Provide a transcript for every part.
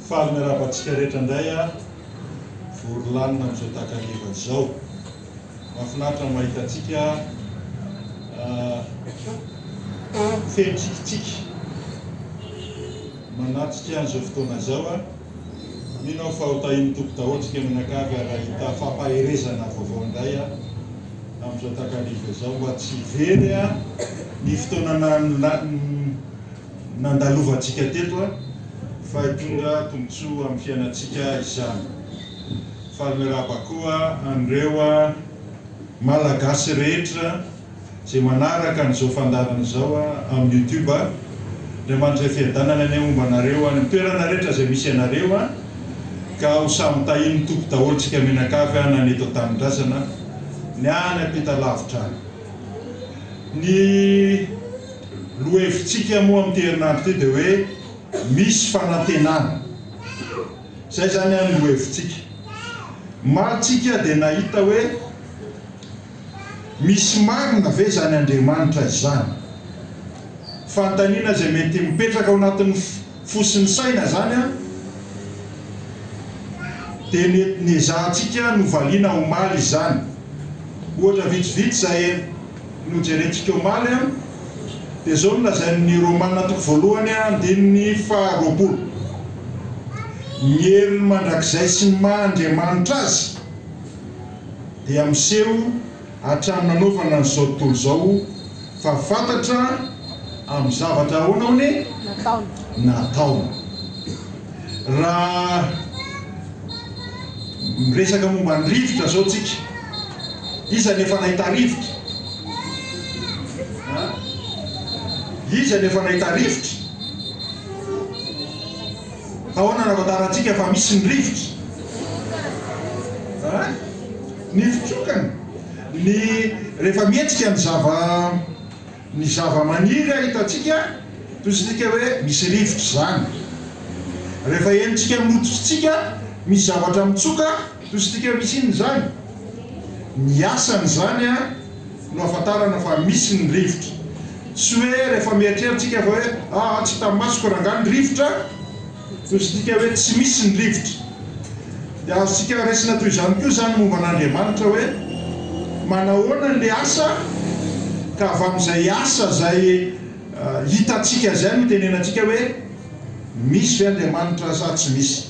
Faly miarahaba antsika rehetra indray aho, vory lanona amin'izao takariva izao. Mahafinaritra ny mahita antsika feno tsikitsiky manatrika an'izao fotoana izao. Mino aho fa ho tahin'ny Tompo daholo isika mianakavy ary hahita fampaherezana vaovao indray amin'izao takariva izao mba tsy hivery ny fotoana nandalovantsika teto fa hitondra tombontsoa amin'ny fiainantsika izany. Faly miarahaba koa an'ireo Malagasy rehetra. Zay manaraka an'izao fandaharana izao amin'ny youtube a, Andriamanitra Fiadanana anie homba anareo any amin'ny toerana rehetra izay misy anareo a, ka ho samy tahin'ny Tompo daholo tsika mianakavy a, na ny eto an-tanindrazana, ny any ampita lavitra any. Ny lohahevitsika moa amin'ity herinandro ity dia hoe misy fanantenana. Izay izany a ny lohahevitsika. Omaly tsika dia nahita hoe. Misy marina ve izany Andriamanitra izany? Fanontaniana izay mety mipetraka ao anatin'ny fo sy ny saina izany an! Dia nety niezahantsika novaliana omaly izany. Ohatra vitsivitsy izay nojerentsika omaly an, dia izao no lazain'ny Romana toko voalohany andininy faha roapolo, Ny heriny mandrakizay sy ny maha Andriamanitra azy, dia miseho hatrany nanaovana an'izao tontolo izao fa fantatra amin'ny zavatra ahoana hono e? Nataony. Raha miresaka momba ny rivotra izao tsika, iza no efa nahita rivotra? Iza no efa nahita rivotra? Ahoana raha fantarantsika fa misy ny rivotra? A. Ny fitsokana, ny rehefa mihetsika ny zava, ny zava-maniry a hitantsika, tohizintsika hoe misy rivotra izany. Rehefa henontsika amin'ny hoditritsika misy zavatra mitsoka, tohizintsika hoe misy inona izany? Ny asany izany a. no ahafantarana fa misy ny rivotra. Tsy hoe rehefa mieritreritsika fa hoe aa tsy hitan'ny masoko rangah ny rivotra no sidika hoe tsy misy ny rivotra. Dia azontsika raisina toy izany koa izany momba an'Andriamanitra hoe manahoana ilay asa ka avy amin'izay asa izay hitantsika izay no itenenantsika hoe misy ve Andriamanitra sa tsy misy.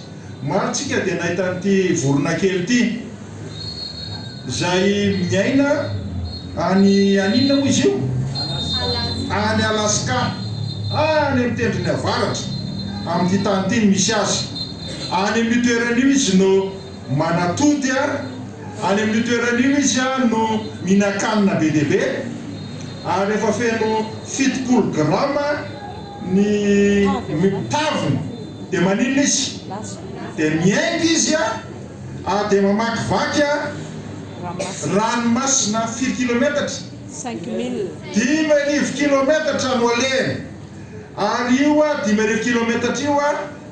Maro tsika dia nahita an'ity vorona kely ity izay miaina any any inona moa izy io? Any Alaska, any amin'ny tendrony avaratra amin'ity tany ity no misy azy. Any amin'io toerana io izy no manatody, any amin'io toerana io izy no mihinan-kanina be dia be ary efa feno fitopolo grama. Ny mitavona dia maninona izy? Dia miainga izy ary dia mamakivaky ranomasina firy kilometatra? Dimy arivo kilometatra no alehany. Ary io dimy arivo kilometatra io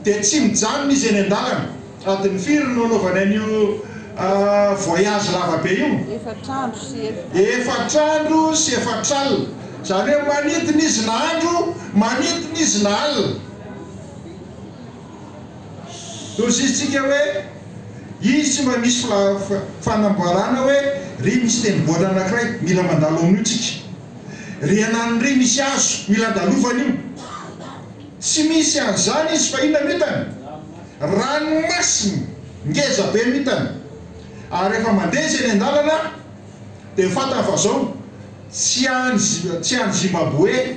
dia tsy mijanona izy eny an-dalana. Adiny firy no anaovanay an'io voyage lava be io? Efatra andro sy efatra. Efatra andro sy efatra alina. Izany hoe manidina izy na andro, manidina izy na alina. Lozitsika hoe izy mba misy fanamboarana hoe ry misy tenibola anankiray mila mandalo amin'io tsika. Ry anan'ny ry misy hazo mila andalovana io. Tsy misy an'izany izy fa inona no hitany? Ranomasina ngeza be mitana ary rehefa mandeha izy eny an-dalana dia fantany fa zao tsy any tsy any Zimbaboe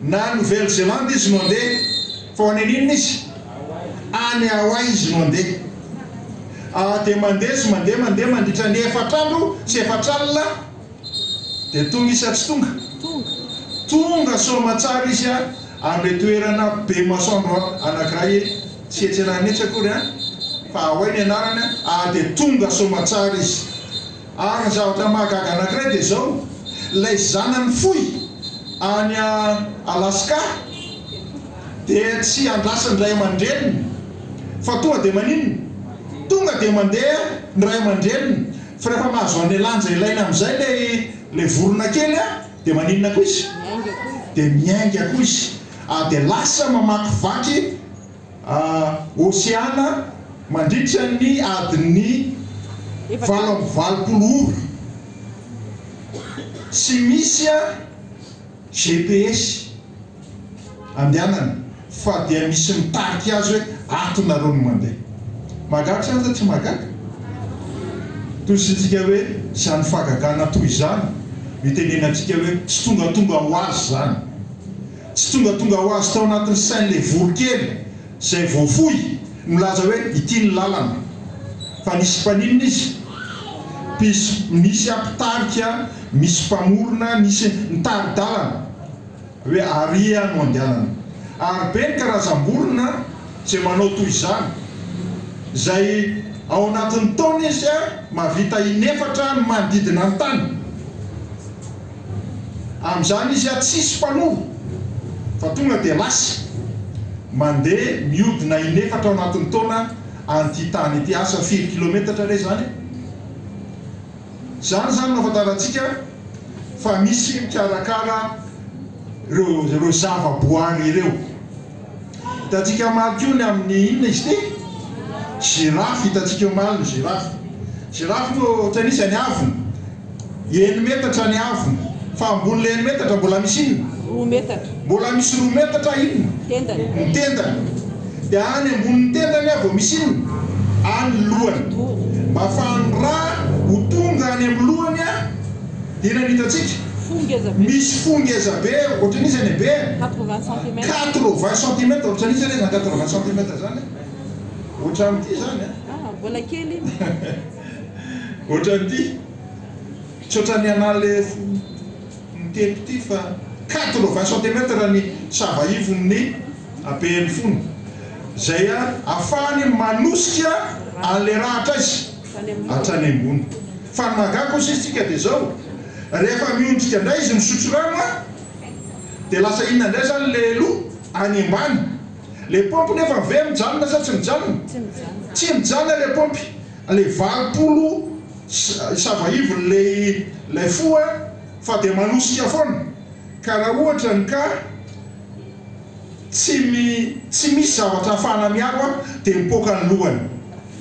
na Nouvelle Zélande izy no handeha fa ho any aninona izy? Any Hawaii izy no handeha. Ary dia mandeha izy mandeha mandeha mandritra ny efatra andro sy efatra alina. Dia tonga izy sa tsy tonga? Tonga soamatsara izy any ilay toerana be masoandro anankiray eny, tsy etsy ananan'etsy akory an, fa ahoy ny anarany an, ary dia tonga soamatsara izy. Ary ny zavatra mahagaga anankiray dia izao, ilay zanany fohy any Alaska dia tsy andrasan'ny ray aman-dreniny fa tonga dia maninona? Tonga dia mandeha ny ray aman-dreniny. Fa rehefa mahazo anle lanja ilaina amizay le le vorona kely a de maninona koa izy? de miainga koa izy a de lasa mamakivaky a oseana mandritra ny adin'ny valo amby valopolo ora. Tsy misy a. GPS andehanany fa dia misy mitarika azy hoe ato nareo no mandeha. Mahagaga sa aza tsy mahagaga? Toy isintsika hoe izany fahagagana toy izany no itenenantsika hoe tsy tongatonga ho azy izany. Tsy tongatonga ho azy tao anatin'ny sain'ilay voronkely. izay voafoy milaza hoe ity ny lalana fa nisy mpaninona izy? mpisy nisy aho mpitarika misy mpamorona nisy nitari-dalana hoe aria no andehanana ary be ny karazam-borona izay manao toy izany izay ao anatin'ny taona izy mahavita inefatra ny manodidina ny tany Amin'izany izy an tsisy mpanova fa tonga dia lasa. Mandeha mihodina inefatra anatin'ny taona an'ity tany ity. Asa firy kilometatra re izany e? Izany izany no ahafantarantsika fa misy mikarakara ireo ireo zavaboary ireo. Hitantsika omaly koa ny amin'ny inona izy ity? Giraffe, hitantsika omaly ny giraffe. Giraffe moa ohatran'ny iza ny havony? Eny metatra ny havony. Fa ambonin'ilay eny metatra mbola misy inona? Roa metatra. Mbola misy roa metatra inona? Tendany. Ny tendany. Dia any ambonin'ny tendany ah vao misy inona? Any lohany. Mba afahan'ny ra ho tonga any amin'ny lohany ah. Inona no hitantsika? Fo ngeza be. Misy fo ngeza be ohatran'iza ny habeany? Quatre vingt centimètres. Quatre vingt centimètres ohatran'iza re izany quatre vingt centimètres izany a? Ohatran'ity izany a? Ah, mbola kely iny. Ohatran'ity. Tsy ohatran'ny anà le fo mitety ity fa quatre vingt centimètres ny sava ivon'ny habean'ny fony. Izay ahafahany manosika an'ilay rahatra azy. hatrany ambony. Fa ny mahagaga kosa izy tsika dia izao, rehefa miondrika indray izy misotro rano a! dia lasa inona indray izany ilay loha any ambany. Ilay paompy nefa ve mijanona sa tsy mijanona? Tsy mijanona ilay paompy, ilay valopolo sava ivon'ilay ilay fo a! fa dia manosika foana ka raha ohatra ny ka tsy tsy misy zavatra ahafahana miaro a! dia mipoaka ny lohany.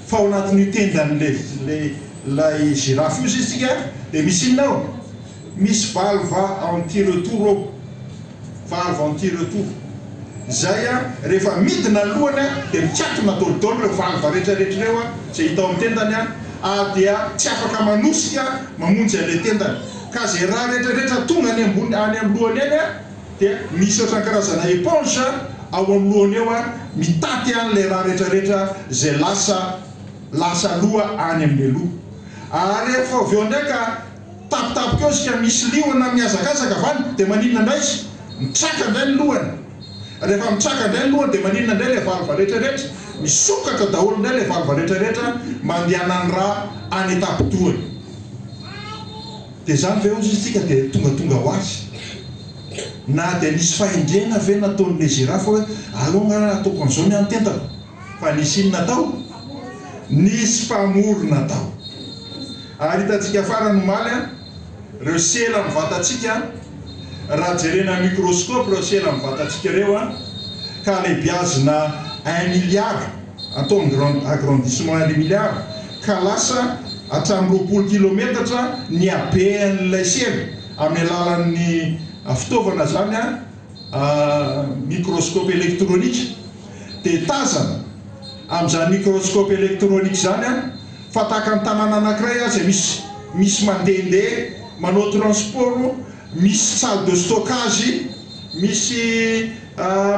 Fa ao anatin'io tendan'ilay ilay girafe io sisa tsika dia misy inona ao? Misy valve anti retour ao, valve anti retour izay a rehefa midina ny lohany a dia mikatona daholo daholo ireo valve rehetra rehetra ireo a izay hita ao amin'ny tendany a ary dia tsy afaka manosika mamonjy an'ilay tendany ka izay rà rehetra rehetra tonga any ambony any amin'ny lohany any a Dia misy ohatran'ny karazana éponge ao amin'ny lohany eo an, mitaty an ilay rà rehetra rehetra izay lasa lasa aloha any amin'ilay loha. Ary rehefa avy eo indray ka tapitapika eo izy ka misy liona mihazakazaka avy any dia maninona indray izy? Mitraka indray ny lohany. Rehefa mitraka indray ny lohany dia maninona indray ilay valva rehetra rehetra? Misokatra daholo indray ilay valva rehetra rehetra mandehanan'ny rà any an-tapidohany. Dia izany ve hozy isika dia tongatonga ho azy? Na dia nisy fahendrena ve nataon'i Ezera fa hoe, aleo angaha raha ataoko an'izao ny hany tentako? Fa nisy inona tao? Nisy mpamorona tao. Ary hitantsika farany omaly an, ireo sela amin'ny vatantsika an, raha jerena amin'ny microscope ireo sela amin'ny vatantsika ireo an, ka alebiazina un milliard, atao agrandissement un milliard ka lasa hatramin'ny roapolo kilometatra ny habean'ilay sela amin'ny alalan'ny fitaovana izany a microscope électronique dia tazana amin'izany microscope électronique izany a fa tahaka ny tanàna anankiray aza misy misy mandehandeha manao transport misy salle de stockage misy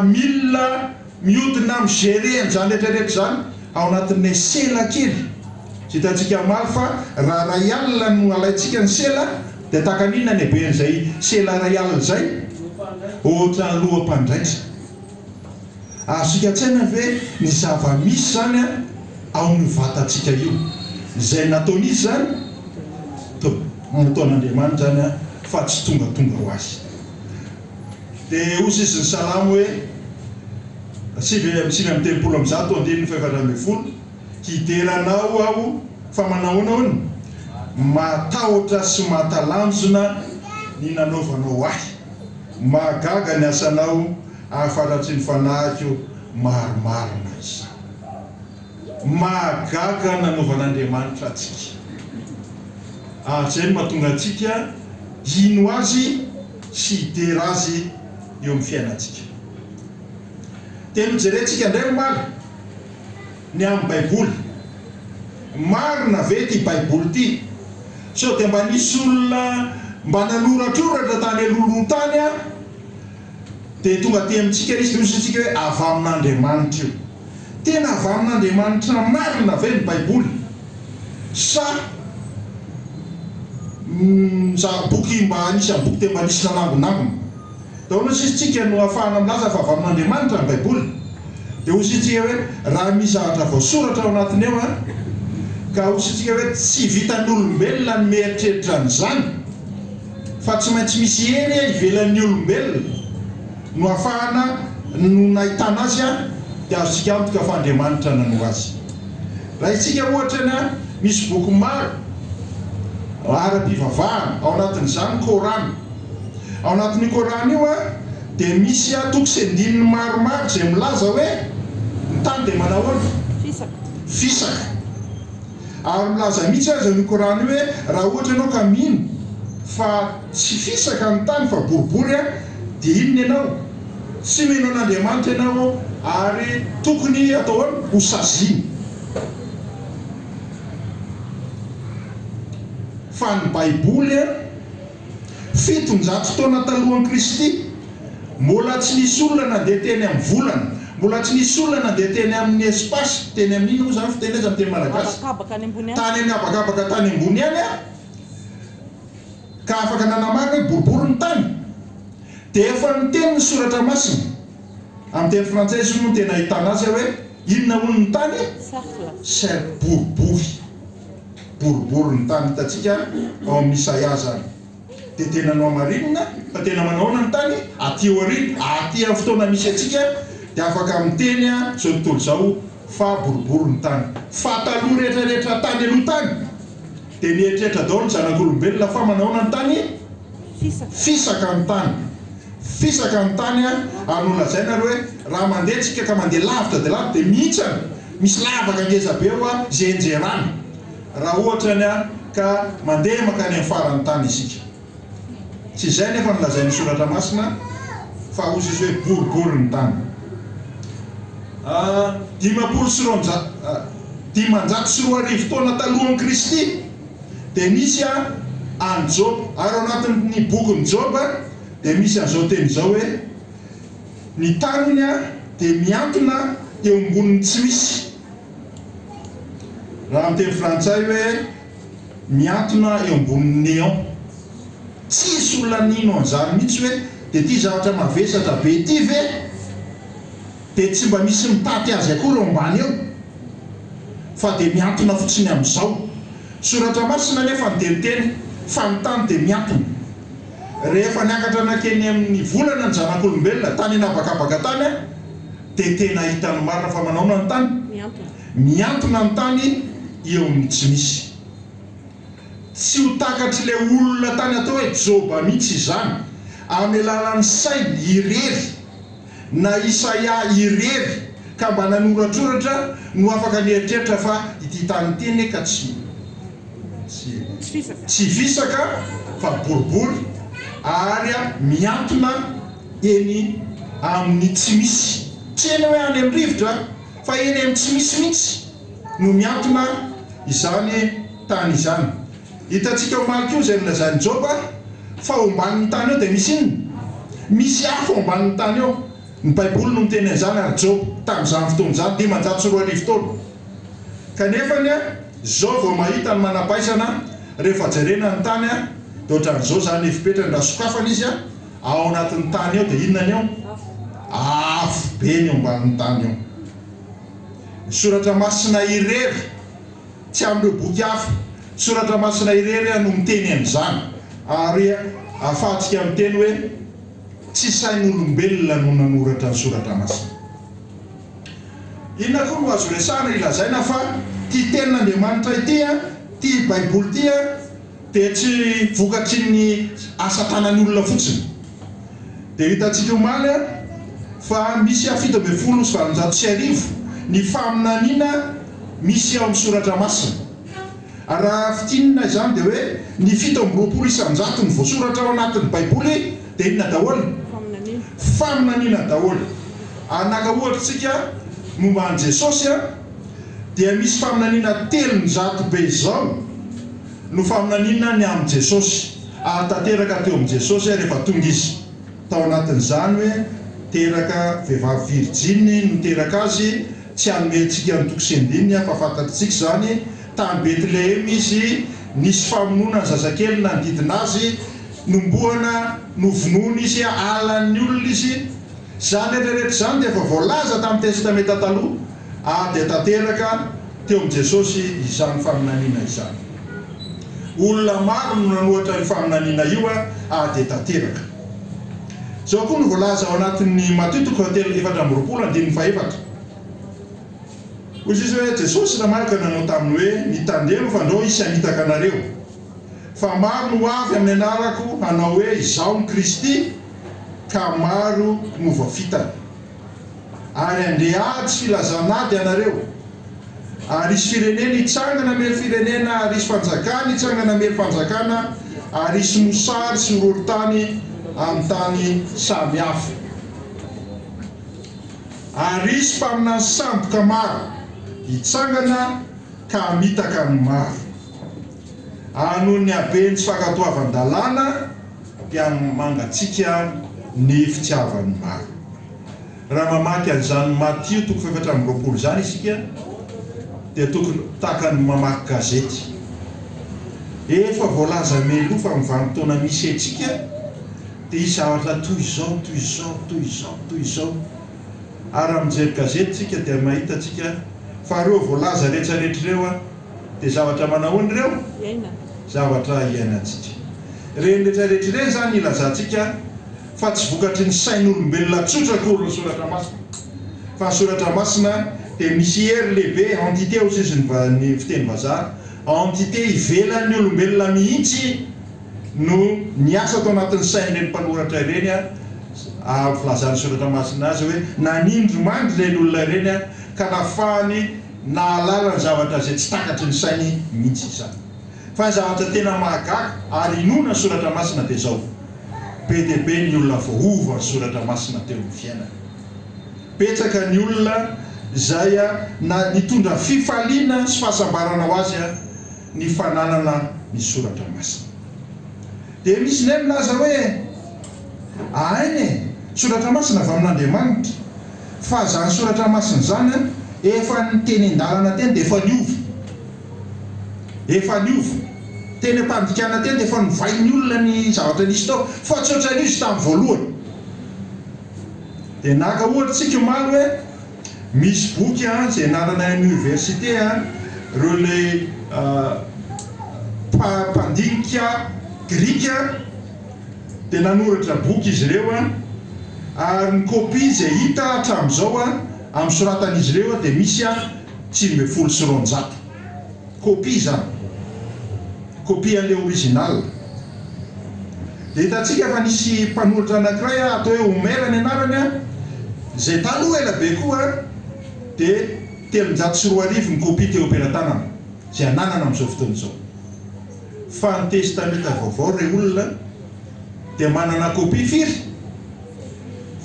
milina Miodina am gerer an'izany rehetrarehetra izany ao anatin'ilay sela kely. Tsy hitantsika omaly fa raha iray alina no alaintsika ny sela dia tahaka ny inona ny haben'izay sela iray alina izay? Ohatran'ny loham-pandraisa. Azontsika an-tsaina ve ny zava-misy izany ao amin'io vatantsika io? Izay nataon'izy izany? Toa nataon'Andriamanitra izany fa tsy tongatonga ho azy. dia hoy izy ny salamo hoe, sivy amby sivy amby telopolo amby zato andininy fahefatra ambin'ny folo, Hidera Anao aho fa manahoana hono? Mahatahotra sy mahatalanjona ny nanaovanao ahy, mahagaga ny asanao afaratry ny fanahiko marimarina izany. Mahagaga ny nanaovan'Andriamanitra antsika, ary izay no mahatonga antsika hino Azy. sy hidera azy eo amin'ny fiainantsika. Dia nojerentsika indray omaly ny amin'ny Baiboly. Marina ve ity Baiboly ity? Sao dia mba nisy olona mba nanoratroratra tany alohaloha tany, dia tonga aty amintsika izy, nohozontsika hoe avy amin'Andriamanitra io. Tena avy amin'Andriamanitra marina ve ny Baiboly? Sa mizaha boky mba anisan'ny boky dia mba nisy nanangonangona? Dia ahoana sisa isika no ahafahana milaza fa avy amin'Andriamanitra ny Baiboly? Dia hoy isika hoe, Raha misy zavatra voasoratra ao anatiny eo an! Ka hoy isika hoe, Tsy vitan'olombelona ny mieritreritra an'izany, fa tsy maintsy misy hery ivelan'ny olombelona. Nohafahana no nahitana azy an, dia azontsika antoka fa Andriamanitra nanoro azy. Rahintsika ohatra ny an, misy boky maro ara-pivavahana, ao anatin'izany ny Kor'any. Ao anatin'io Kor'any io an, dia misy an, toko sy andininy maromaro izay milaza hoe, ny tany dia manahoana? Fisaka. Ary milaza mihitsy aza io Kor'any io hoe, Raha ohatra ianao ka mino fa tsy fisaka ny tany fa boribory dia inona ianao? Tsy mino an'Andriamanitra ianao ary tokony hatao ahoana? Ho saziana. Fa ny Baiboly. Fitonjato taona talohan'i Kristy, mbola tsy nisy olona nandeha teny amin'ny volana, mbola tsy nisy olona nandeha teny amin'ny espace, teny amin'ny inona moa izany fiteny azy amin'ny teny malagasy? Habakabaka any ambony any. Tany amin'ny habakabaka tany ambony any aho, ka afaka nanamarina hoe boribory ny tany. Dia efa niteny ny Soratra Masina, amin'ny teny frantsay izy io no tena ahitana azy, hoe inona hono ny tany? Cercle. Cercle, boribory. boribory ny tany hitantsika ao amin'ny Isaia izany. Dia tena nohamarinina fa tena manao ahoana ny tany? Aty aoriana, aty amin'ny fotoana misy antsika dia afaka miteny izao tontolo izao fa boribory ny tany. Fa taloha rehetrarehetra tany aloha tany dia nieritreritra daholo ny zanak'olombelona fa manao ahoana ny tany? Fisaka ny tany. Fisaka ny tany ary nolazaina ary hoe raha mandeha antsika ka mandeha lavitra dia lavitra dia mihintsana. Misy lavaka ngeza be hoa izay enjerana raha ohatra ny ka mandeha mankany amin'ny faran'ny tany isika. Tsy izay nefa no lazain'ny soratra masina fa ho sisy hoe boribory ny tany. Ah dimampolo sy roanjato dimanjato sy roa arivo taona talohan'i Kristy dia nisy ah an'i Joba ary ao anatin'ny bokin'i Joba dia misy an'izao teny izao hoe Ny taniny dia miantona eo ambonin'ny tsy misy. Raha amin'ny teny frantsay hoe miantona eo ambonin'ny néant. Tsisy olona nino an'izany mihitsy hoe dia ity zavatra mavesatra be ity ve dia tsy mba misy mitaty azy akory eo ambany eo? Fa dia miantona fotsiny amin'izao. Soratra masina anefa no dia miteny fa ny tany dia miantona. Rehefa niakatra nankeny amin'ny volana ny zanak'olombelona, tany an'habakabaka tany aho, dia tena hahita ny marina fa manaona ny tany? Mihantona ny tany eo amin'ny tsy misy. Tsy ho takatr'ilay olona tany atao hoe Joba mihitsy izany, amin'ny alalan'ny sainy irery. na Isaia irery ka mba nanoratsoratra no afaka nieritreritra fa ity tany ity anie ka tsy tsy fisaka fa boribory ary mihantona eny amin'ny tsy misy, tsy eny hoe any amin'ny rivotra fa eny amin'ny tsy misy mihitsy. no miantona izany tany izany. Hitantsika omaly koa izay nolazain'i Joba fa ao ambanin'ny tany eo dia misy inona? Misy afo ao ambanin'ny tany eo. Ny Baiboly no miteny an'izany ary Joba tamin'izany fotoana izany dimanjato sy roa arivo taona. Kanefa anie izao vao mahita ny manampaisana rehefa jerena ny tany dia ohatran'izao izany ny fepetrany raha sokafana izy ao anatin'ny tany eo dia inona ny eo? Afo be ny eo ambanin'ny tany eo. Ny Soratra Masina irery, tsy amin'ireo boky hafa. Ny Soratra Masina irery no miteny an'izany. Ary ahafahantsika miteny hoe tsy sain'olombelona no nanoratra ny Soratra Masina. Inona koa no azo resahina hilazaina fa ity Tenin'Andriamanitra ity, ity Baiboly ity, dia tsy vokatry ny asa tanany olona fotsiny dia hitantsika omaly fa misy aho fito ambin'ny folo sy valonjato sy arivo ny faminaniana misy ao amin'ny soratra masina raha fintinina izany dia hoe ny fito amby roapolo isanjato ny voasoratra ao anatin'ny baiboly dia inona daholo? faminaniana daholo ary naka ohatra isika momba an'i Jesosy dia misy faminaniana telonjato be izao No faminaniana ny amin'i Jesosy, ary tanteraka teo amin'i Jesosy aho rehefa tonga Izy. Tao anatin'izany hoe teraka vehivavy virijiny no teraka Azy, tsy hanome antsika ny toko sy andininy aho fa fantatr'tsika izany, tany Betlehema Izy, nisy famonoana ny zazakely nanodidina Azy, nombohana, novonoina Izy, halan'ny olona Izy. Izany rehetra rehetra izany dia efa voalaza tamin'ny Testamenta Taloha. Ady tanteraka teo amin'i Jesosy izany faminaniana izany. Olona maro no nanohatra io faminaniana io ady tanteraka. Izao koa no voalaza ao anatin'ny Matio toko fahatelo efatra amby roapolo andininy fahefatra, Hoy Jesoa hoe, Jesosy namaly ka nanao taminy hoe, Mitandrema fa ndrao hisy hamitaka anareo. Fa maro no ho avy amin'ny anarako hanao hoe, Izaho no Kristy, ka maro no ho voafitany. Ary handre ady sy lazan'ady ianareo, ary hisy firenena hitsangana miely firenena, ary hisy fanjakana hitsangana miely fanjakana, ary hisy mosary sy horohorontany amin'ny tany samy hafa. Ary hisy mpaminany sandoka maro hitsangana ka hamitaka ny maro, ary noho ny haben'ny tsy fankatoavan-dalàna, dia amin'ny mangatsiaka ny fitiavan'ny maro. Raha mamaky an'izany Matio toko fahefatra amby roapolo izany isika dia tokony tahaka ny mamaky gazety. Efa voalaza mialoha fa amin'ny vanim-potoana misy antsika dia hisy zavatra toy izao, toy izao, toy izao, toy izao. Ary raha mijery gazety isika dia mahita antsika fa ireo voalaza rehetra rehetra ireo Dia zavatra manahoana ireo? Zavatra iainantsika. Ireny rehetra rehetra ireny izany ilazantsika fa tsy vokatry ny sain'olombelona tsotra akory ny Soratra Masina. Fa ny Soratra Masina dia misy hery lehibe, entité hoy sisa ny fiteny vazaha, entité ivelan'ny olombelona mihitsy no niasa tao anatin'ny sain'ireny mpanoratra ireny ahahavy filazan'ny Soratra Masina azy hoe nanindromandry ireny olona ireny ka nafahany Nahalala ny zavatra izay tsy takatry ny sainy mihitsy izany. Fa ny zavatra tena mahagaga ary inoana ny Soratra Masina dia izao, Be dia be ny olona voaova ny Soratra Masina teo amin'ny fiainany. Betsaka ny olona izay na nitondra fifaliana sy fahasambarana ho azy ny fananana ny Soratra Masina. Dia misy indray milaza hoe. Ahainy e! Soratra masina avy amin'Andriamanitra. Fa zany soratra masina zany an, efa nitenin-dalana teny dia efa niova. Efa niova. Teny am-pandikana teny dia efa novain'ny olona ny zavatra nisy tao. Fa tsy ohatran'io izy tamin'ny voalohany. Dia naka ohatra tsika omaly hoe, misy boky an, izay anarana université an, reo le mpandinika grika, dia nanoratra boky izy ireo, ary ny kopia izay hita hatramin'izao amin'ny soratan'izy ireo dia misy tsimy ambin'ny folo sy roanjato kopia izany, kopia an'ilay original. Dia hitantsika fa nisy mpanoratra anankiray atao hoe Omer ny anarany, izay taloha ela be koa dia telonjato sy roa arivo ny kopia teo am-pelatanana izay ananana amin'izao fotoana izao. Fa ny Testamenta Vaovao re olona dia manana copie firy?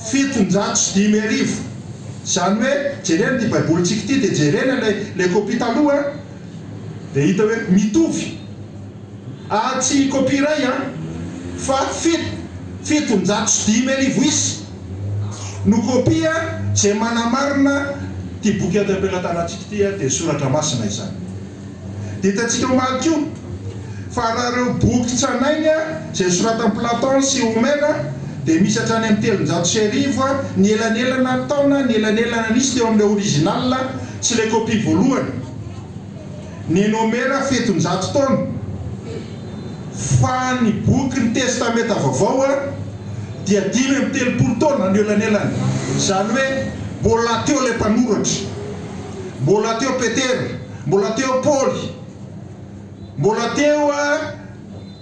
Fitonjato sy dimy arivo. Izany hoe jerena ity Baibolintsika ity dia jerena ilay ilay copie taloha an! Dia hita hoe mitovy. Ary tsy copie iray an! Fa fito, fitonjato sy dimy arivo isa no copie izay manamarina ity boky eto am-pelatanantsika ity an! Dia soratra masina izany. Dia hitantsika omaly koa fa raha ireo boky tranainy izay nosoratan'i Platon sy Homère dia misy hatrany amin'ny telonjato sy arivo ny elanelana taona ny elanelana nisy teo amin'ilay original sy ilay copie voalohany. Nen'i Homère fetonjato taona. Fa ny bokin'ny Testamenta Vaovao dia dimy amby telopolo taona no elanelany. Izany hoe mbola teo ilay mpanoratra. Mbola teo Petera, mbola teo Paoly, mbola teo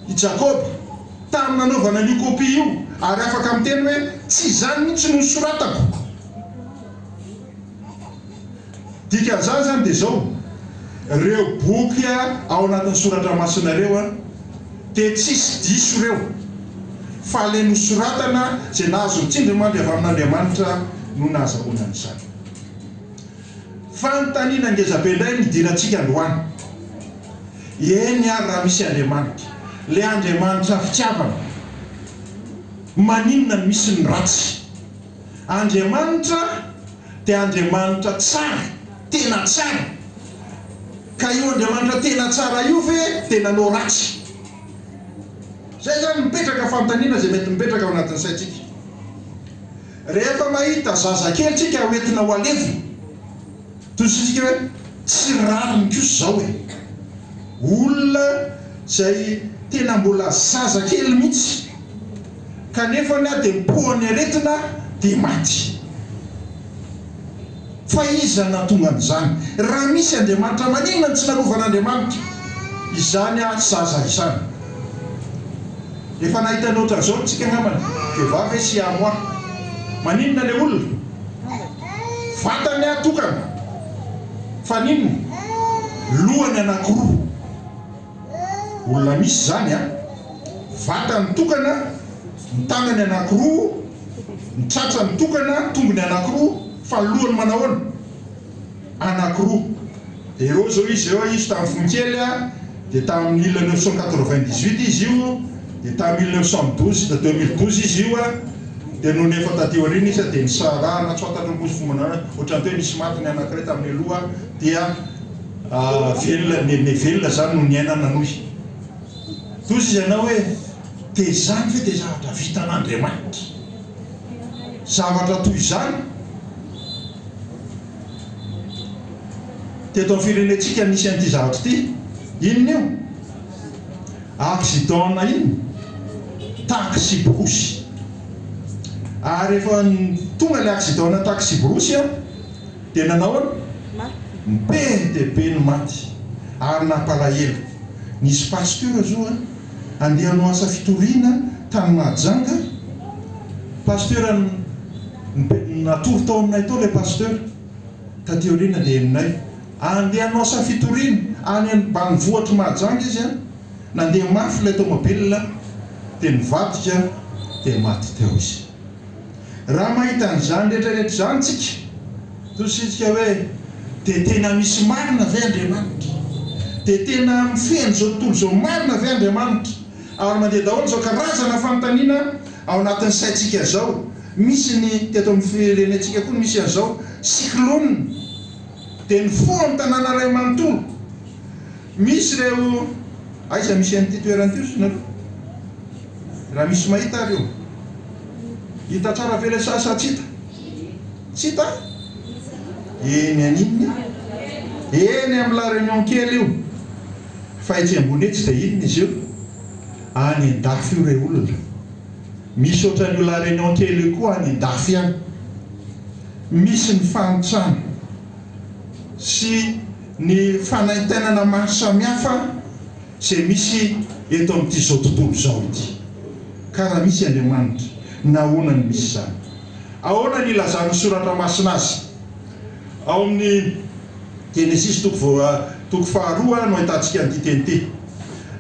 i Jakoba, tamin'ny nanaovana an'io kopia io, ary afaka miteny hoe, Tsy izany mihitsy no nosoratako. Dikan'izany izany dia izao, Ireo boky ao anatin'ny soratra masina ireo dia tsisy diso ireo, fa ilay nosoratana izay nahazo ny tsindrimandry avy amin'Andriamanitra no nahazahoana an'izany. Fanontaniana ngezabe indray no hidirantsika androany. Eny ary raha misy Andriamanitra, ilay Andriamanitra fitiavana, maninona no misy ny ratsy? Andriamanitra dia Andriamanitra tsara, tena tsara, ka io Andriamanitra tena tsara io ve dia nanao ratsy? Izay izany mipetraka fanontaniana izay mety mipetraka ao anatin'ny saintsika. Rehefa mahita zazakely tsika hoentina ho alevina, toy izay tsika hoe tsy rariny kosa izao e! Olona izay tena mbola zazakely mihitsy kanefa na dia mipoa ny aretina dia maty. Fa iza no nahatonga an'izany? Raha misy Andriamanitra, maninona no tsy nalovan'Andriamanitra izany ahy zaza izany? Efa nahita ny ohatran'izao isika angambany, Jehovah ve sy Amoah? Maninona ilay olona? Vatany ahy tokana, fa n'inona? Lohany anankiroa. Olona misy izany an! Vatany tokana, ny tanany anankiroa, ny tratrany tokana, tongony anankiroa, fa ny lohany manao ahoana? Anankiroa. Jereo izao izy ireo, izy tamin'ny fony kely an, dia tamin'ny mille neuf cent quatre-vingt-dix-huit izy io, dia tamin'ny mille neuf cent douze na deux mille douze izy io an, dia nony efa taty aoriana izy an, dia nisarahana tsy fantatro ny posifombany, ohatran'ny hoe nisy maty ny anankiray tamin'ny aloha dia. Velona ny me velona zany no niainana nohy toa izy ianao hoe te izany ve dia zavatra vitan'Andriamanitra zavatra toy izany teto amin'ny firenentsika nisy an'ity zavatra ity inona io accident na inona taxi borosy ary efa tonga ilay accident na taxi borosy a Dia nanao an? ny PNTB ny maty ary nampalahelo. Nisy pasteur zo an? andeha hanao asa fitoriana tany Mahajanga. Pasteur an? ny P, natory tao aminay tao ilay pasteur taty aoriana dia henonay. Andeha hanao asa fitoriana any an? banivohitr'i Mahajanga izy an? nandeha mafy ilay tomobilina dia nivadika dia maty teo izy. Raha mahita an'izany rehetra rehetra izany tsika, toa isika hoe, dia tena misy marina ve Andriamanitra? Dia tena mifehy an'izao tontolo izao marina ve Andriamanitra? Ary mandeha daholo izao karazana fanontaniana ao anatin'ny saintsika izao. Misy ny teto amin'ny firenentsika koa misy an'izao cyclone, dia nifoha ny tanàna iray manontolo. Misy ireo, aiza misy an'ity toerana ity hozy nareo? Raha misy mahita ary io. Hita tsara ve ilay sary sa tsy hita? Tsy hita? Eny an'inona? Eny amin'ny La Réunion kely io. Fa etsy ambony etsy dia inona izy io? Any an-dafy io re olona. Misy ohatran'io La Réunion kely io koa any an-dafy any. Misy ny fahantrana sy ny fanaintainana maro samihafa. Izay misy eto amin'ity izao tontolo izao ity. Ka raha misy Andriamanitra, nahoana no misy izany? Ahoana no ilazan'ny Soratra Masina azy? Ao amin'ny Genesisy toko voa, toko faharoa no ahitantsika an'ity teny ity.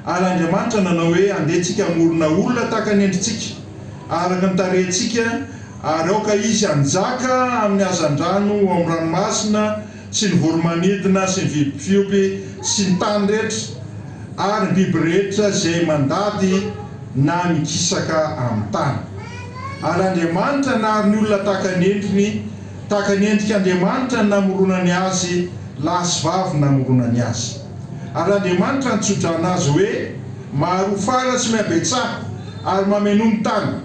Ary Andriamanitra nanao hoe, Handeha tsika hamorona olona tahaka ny endritsika, araka ny tarehintsika, ary aoka izy hanjaka amin'ny hazandrano ao amin'ny ranomasina, sy ny voro-manidina sy ny biby fiompy sy ny tany rehetra ary ny biby rehetra izay mandady na mikisaka amin'ny tany. Ary Andriamanitra nary ny olona tahaka ny endriny, tahaka ny endrik' Andriamanitra no namoronany azy, lahy sy vavy no namoronany azy. Ary Andriamanitra nitso-drano azy hoe, Maharoa fara sy mihabetsaha, ary mameno ny tany.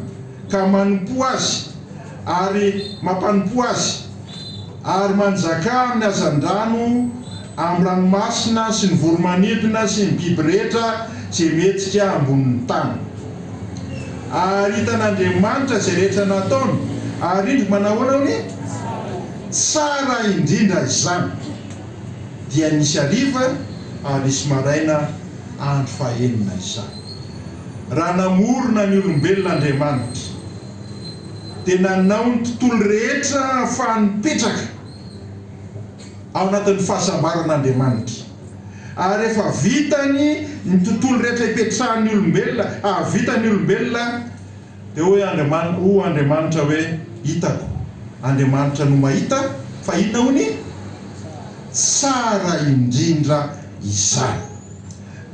ka manompoa Azy ary mampanompoa Azy, ary manjakà amin'ny hazandrano, amin'ny ranomasina sy ny voromanidina sy ny biby rehetra izay mihetsika ambonin'ny tany. Ary hitan'Andriamanitra izay rehetra nataony, ary indro manahoana hono e? Tsara indrindra izany. Dia nisy hariva ary nisy maraina andro fahenina izany. Raha namorona ny olombelona Andriamanitra, dia nanao ny tontolo rehetra hahafahany mipetraka ao anatin'ny fahasambaran'Andriamanitra. Ary efa vitany ny tontolo rehetra hipetrahan'ny olombelona, hahavita ny olombelona. Dia hoy Andriamanitra, hoy Andriamanitra hoe, Hitako. Andriamanitra no mahita, fa inona hono i? Tsara indrindra izany.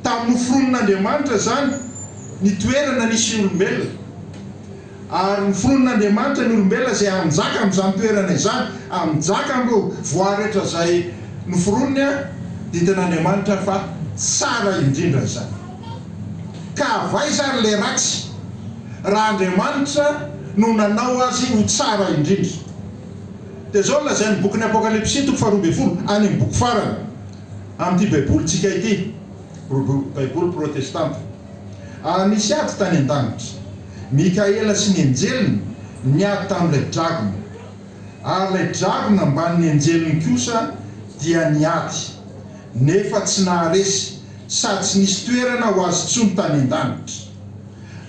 Tamin'ny noforonin'Andriamanitra izany ny toerana nisy ny olombelona, ary noforonin'Andriamanitra ny olombelona izay hanjaka amin'izany toerana izany, hanjaka amin'ireo voary rehetra izay noforoniny, dia hitan'Andriamanitra fa tsara indrindra izany. Ka avaiza ary ilay ratsy, raha Andriamanitra no nanao azy ho tsara indrindra? Dia izao no lazain'ny bokin'ny Apokalypsy, toko faharoa ambin'ny folo, any amin'ny boky farany. amin'ity Baibolintsika ity, Baiboly protestanta. Ary nisy ady tany an-danitra. Mikaela sy ny anjeliny niady tamin'ilay dragona. Ary ilay dragona ambanin'ny anjeliny kosa dia niady, nefa tsy naharesy, sady tsy nisy toerana ho azy intsony tany an-danitra.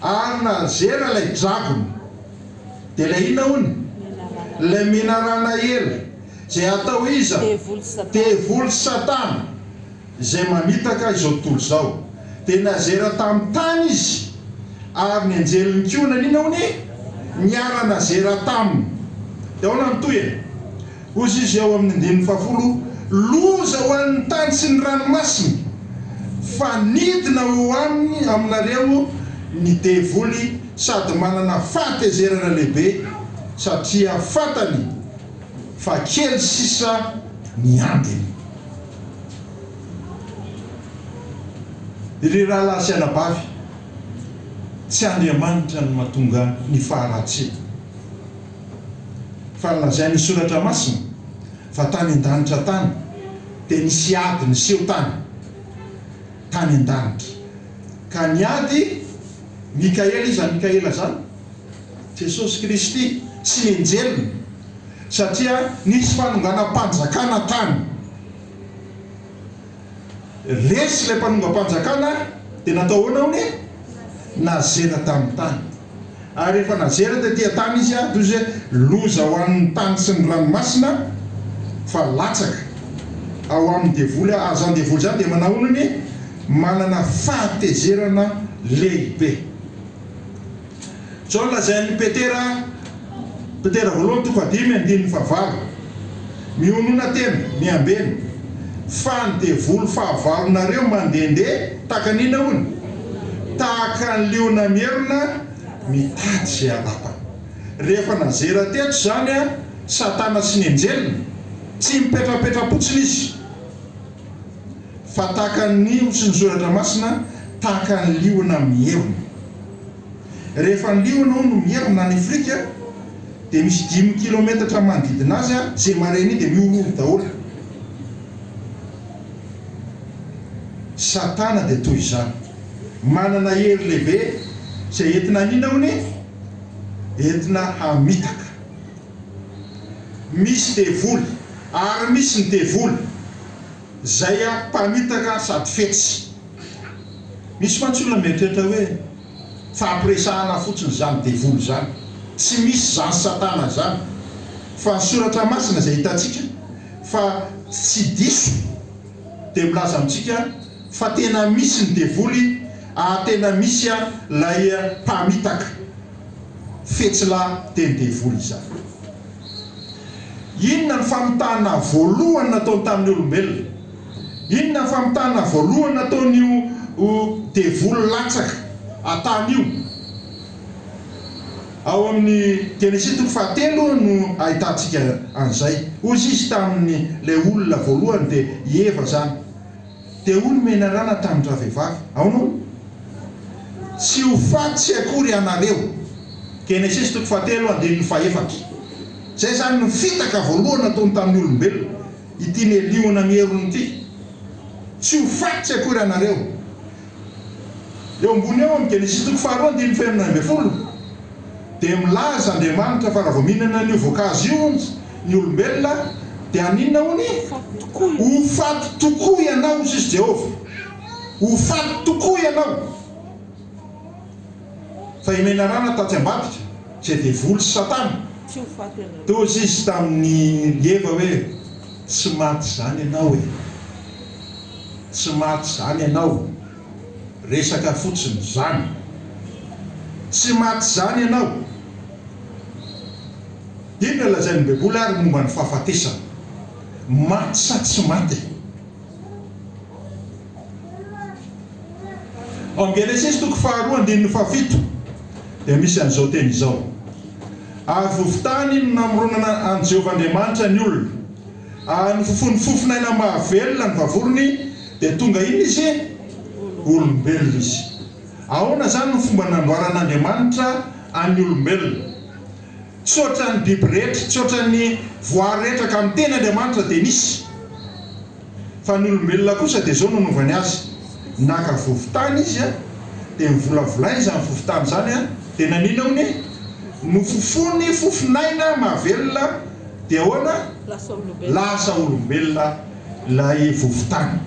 Ary nazera ilay dragona. Dia ilay inona hono? Ilay menarana ela. Izay hatao iza? Devoly sy Satana izay mamitaka izao tontolo izao. Dia nazera tamin'ny tany izy, ary ny anjeliny koa naniana ho ny niara-nazera taminy. Dia ahoana ny tohiny? Hozy izy ao amin'ny andininy fahafolo, Loza ho an'ny tany sy ny ranomasina, fa nidina ho aminy, aminareo, ny devoly, sady manana fahatezerana lehibe, satria fantany, fa kely sisa ny andiny. Ry rahalahy sy anabavy, tsy Andriamanitra no mahatonga ny faharatsiana, fa nolazain'ny Soratra Masina fa tany an-danitra tany dia nisy ady niseho tany, tany an-danitra, ka ny ady, Mikaela, iza Mikaela izany? Jesosy Kristy sy enjeliny, satria nisy fanonganam-panjakana tany. Resy ilay mpanongam-panjakana dia natao ahoana hono? Nazera tamin'ny tany. Ary rehefa nazera tety an-tany izy dia hoy izy hoe, Loza ho an'ny tany sy ny ranomasina, fa latsaka ao amin'ny devoly aho. Ary izany devoly izany dia manao ahoana hono? Manana fahatezerana lehibe. Izao no lazain'i Petera, Petera voalohany toko fahadimy andininy fahavalo, Mionona tena, miambena, fa ny devoly fahavalonareo mandehandeha tahaka ny inona hono? Tahaka ny liona mierona mitady izay halapany. Rehefa nazera teto izany Satana sy ny anjeliny, tsy mipetrapetra-potsiny izy. fa tahaka ny nihotry ny soratra masina, tahaka ny liona mierona. Rehefa ny liona hono mierona any Afrika, dia misy dimy kilometatra manodidina azy, izay mare an'iny dia mihorohoro daholo. Satana dia toy izany. Manana hery lehibe izay entina hanina hono e! Entina hamitaka. Misy devoly ary misy ny devoly izay mpamitaka sady fetsy. Misy mantsy olona mieritreritra hoe fampiresahana fotsiny izany devoly izany. Tsy misy izany satana izany fa ny soratra masina izay hitantsika fa tsy diso dia milaza amintsika fa tena misy ny devoly ary tena misy ilay mpamitaka. Fetsilahy teny devoly izany. Inona ny famitana voalohany nataony tamin'ny olombelona? Inona ny famitana voalohany nataon'io devoly latsaka an-tany io? Ao amin'ny Genesisy toko fahatelo no ahitantsika an'izay. Hoy izy tamin'ilay olona voalohany, dia i Eva izany, Dia hoy ny menarana tamin-dravehivavy, Aona hono? Tsy ho faty akory ianareo. Genesisy toko fahatelo andininy fahefatra. Izay izany no fitaka voalohany nataony tamin'ny olombelona, ity neliona ny herony ity. Tsy ho faty akory ianareo. Eo ambony eo amin'ny Genesisy toko faharoa andininy fahenina ambin'ny folo dia milaza Andriamanitra fa raha vao mihinana an'io voankazo io hono ny olombelona dia haninona hono? Ho faty tokoa ianao hoy sisa Jehovah. Ho faty tokoa ianao. Fa i Menarana taty ambadika, izay devoly sy satana, toa hozy izy tamin'i Eva hoe, Tsy maty izany ianao e! Tsy maty izany ianao! Resaka fotsiny izany! Tsy maty izany ianao! Inona lazain'ny Baiboly ary momba ny fahafatesana? Maty sa tsy maty e? Ao amin'ny Genesisy toko faharoa andininy fahafito dia misy an'izao teny izao, Ary vovon-tany no namoronana an'i Jehovah Andriamanitra ny olona, ary nofofoiny fofon'aina mahavelona ny vavorony, dia tonga inona izy? Olombelona izy. Ahoana izany no fomba namboaran'Andriamanitra ny olombelona? tsy ohatran'ny biby rehetra, tsy ohatran'ny voary rehetra ka miteny Andriamanitra dia nisy. Fa ny olombelona kosa dia izao no anaovany azy, naka vovon-tany izy dia novolavolainy izany vovon-tany izany dia nanina hono, nofofony fofon'aina mahavelona dia ahoana? lasa olombelona ilay vovon-tany.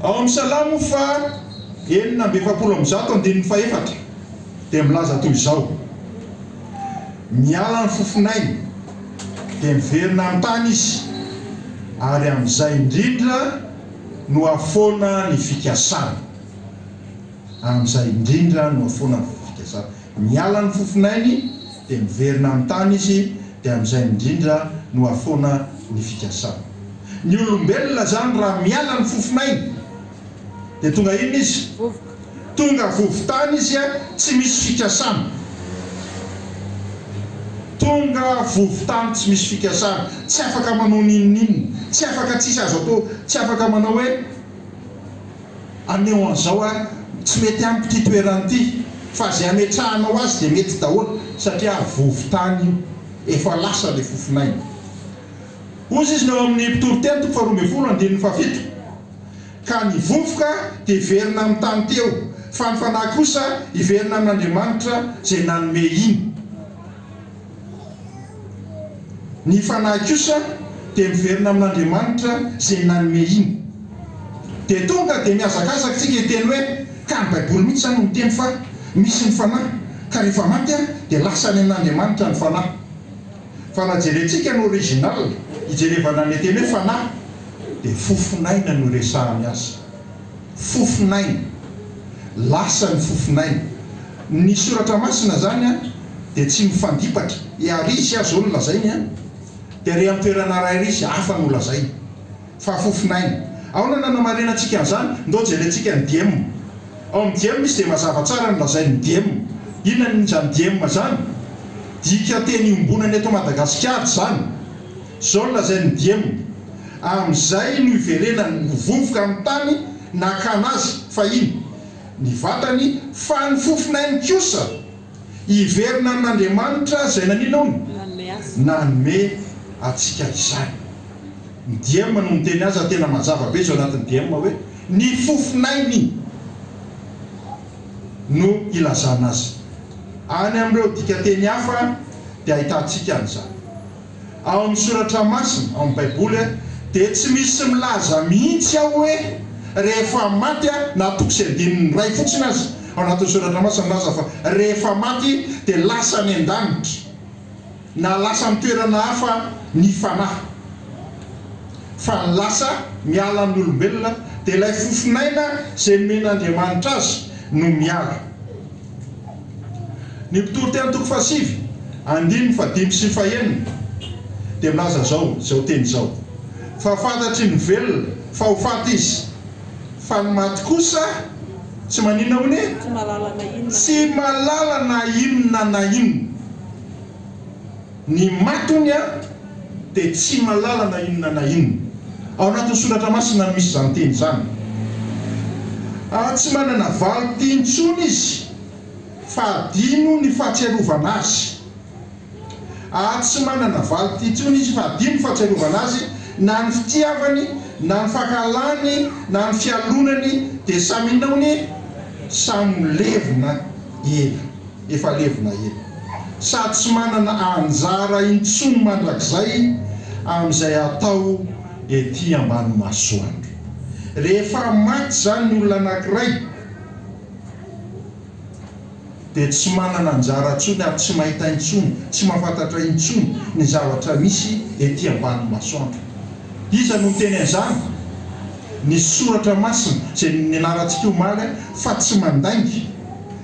Ao amin'ny Salamo faha enina amby efapolo amby zato andininy faha efatra. dia milaza toy izao, Miala ny fofonay, dia miverina amin'ny tany izy, ary amin'izay indrindra no hahafoana ny fikasany. Amin'izay indrindra no hahafoana ny fikasany. Miala ny fofonainy, dia miverina amin'ny tany izy, dia amin'izay indrindra no hahafoana ny fikasany. Ny olombelona izany raha miala ny fofonainy, dia tonga inona izy? Tonga vovon-tany izy a tsy misy fikasana Tonga vovon-tany tsy misy fikasana Tsy afaka manao n'inon'inona Tsy afaka tsisy azo atao Tsy afaka manao hoe aneo an'izao a Tsy mety amiko ity toerana ity Fa ze ametrahanao azy dia mety daholo Satria vovon-tany io Efa lasa le fofon'aina Hozy izy ny ao amin'ny mpitoriteny toko faharoa ambin'ny folo andininy fahafito Ka ny vovoka hiverina amin'ny tany teo, fa ny fanahy kosa hiverina amin'Andriamanitra izay nanome iny. Ny fanahy kosa dia miverina amin'Andriamanitra izay nanome iny. Dia tonga dia mihazakazaka isika hiteny hoe, Ka ny Baiboly mihitsy izany no miteny fa misy ny fanahy, ka rehefa maty dia lasa any amin'Andriamanitra ny fanahy. Fa raha jerentsika ny original, ijerevana le teny hoe fanahy, dia fofon'aina no iresahany azy. Fofon'aina. Lasa ny fofon'aina. Ny soratra masina zany an, dia tsy mifandipatra. I Ary Izy aza hono lazainy an, dia re an-toerana rairy izy, hafa no lazainy. Fa fofon'aina. Ahoana no hanamarinantsika an'izany? Ndao jerentsika ny diem. Ao amin'ny diem misy dia mazava tsara ny lazain'ny diem. Inona ny izany diem izany? Dikan-teny iombonana eto Madagasikara izany. Izao no lazain'ny diem, Amin'izay no iverenany ho vovoka amin'ny tany nakana azy, fahiny, ny vatany, fa ny fofon'ainy kosa, Hiverina amin'Andriamanitra izay naninona? Nanome antsika izany. Ny DM no miteny azy ary tena mazava be izao anatin'ny DM hoe ny fofon'ainy no ilazana azy. Any amin'ireo dikateny hafa dia ahitantsika an'izany. Ao amin'ny Soratra Masina, ao amin'ny Baiboly, dia tsy misy milaza mihitsy ao hoe rehefa maty aho, na toko sy andininy iray fotsiny aza ao anatin'ny Soratra Masina milaza fa rehefa maty dia lasa any an-danitra, na lasa amin'ny toerana hafa ny fanahy. Fa ny lasa miala amin'ny olombelona dia ilay fofon'aina izay nomen'Andriamanitra azy no miala. Ny mpitoriteny toko fahasivy andininy fahadimy sy fahenina dia milaza izao, izao teny izao, Fa fantatry ny velona fa ho faty izy, fa ny maty kosa tsy maninona hono e? Tsy mahalala na inona na inona. Ny matony dia tsy malala na inona na inona. Ao anatin'ny soratra masina no misy izany teny izany. Tsy manana valin-ty intsony izy fa adino ny fahatsiarovana azy. Tsy manana valin-ty intsony izy fa adino ny fahatsiarovana azy, na ny fitiavany, na ny fankahalany, na ny fialonany dia samy inona hono e? Samy milevina ela. efa levona ela, sady tsy manana anjara intsony mandrakizay amin'izay atao ety ambany masoandro. Rehefa maty izany ny olona anankiray, dia tsy manana anjara intsony ary tsy mahita intsony, tsy mahafantatra intsony ny zavatra misy ety ambany masoandro. Iza no niteny an'izany? Ny Soratra Masina, izay nianarantsika omaly, fa tsy mandainga.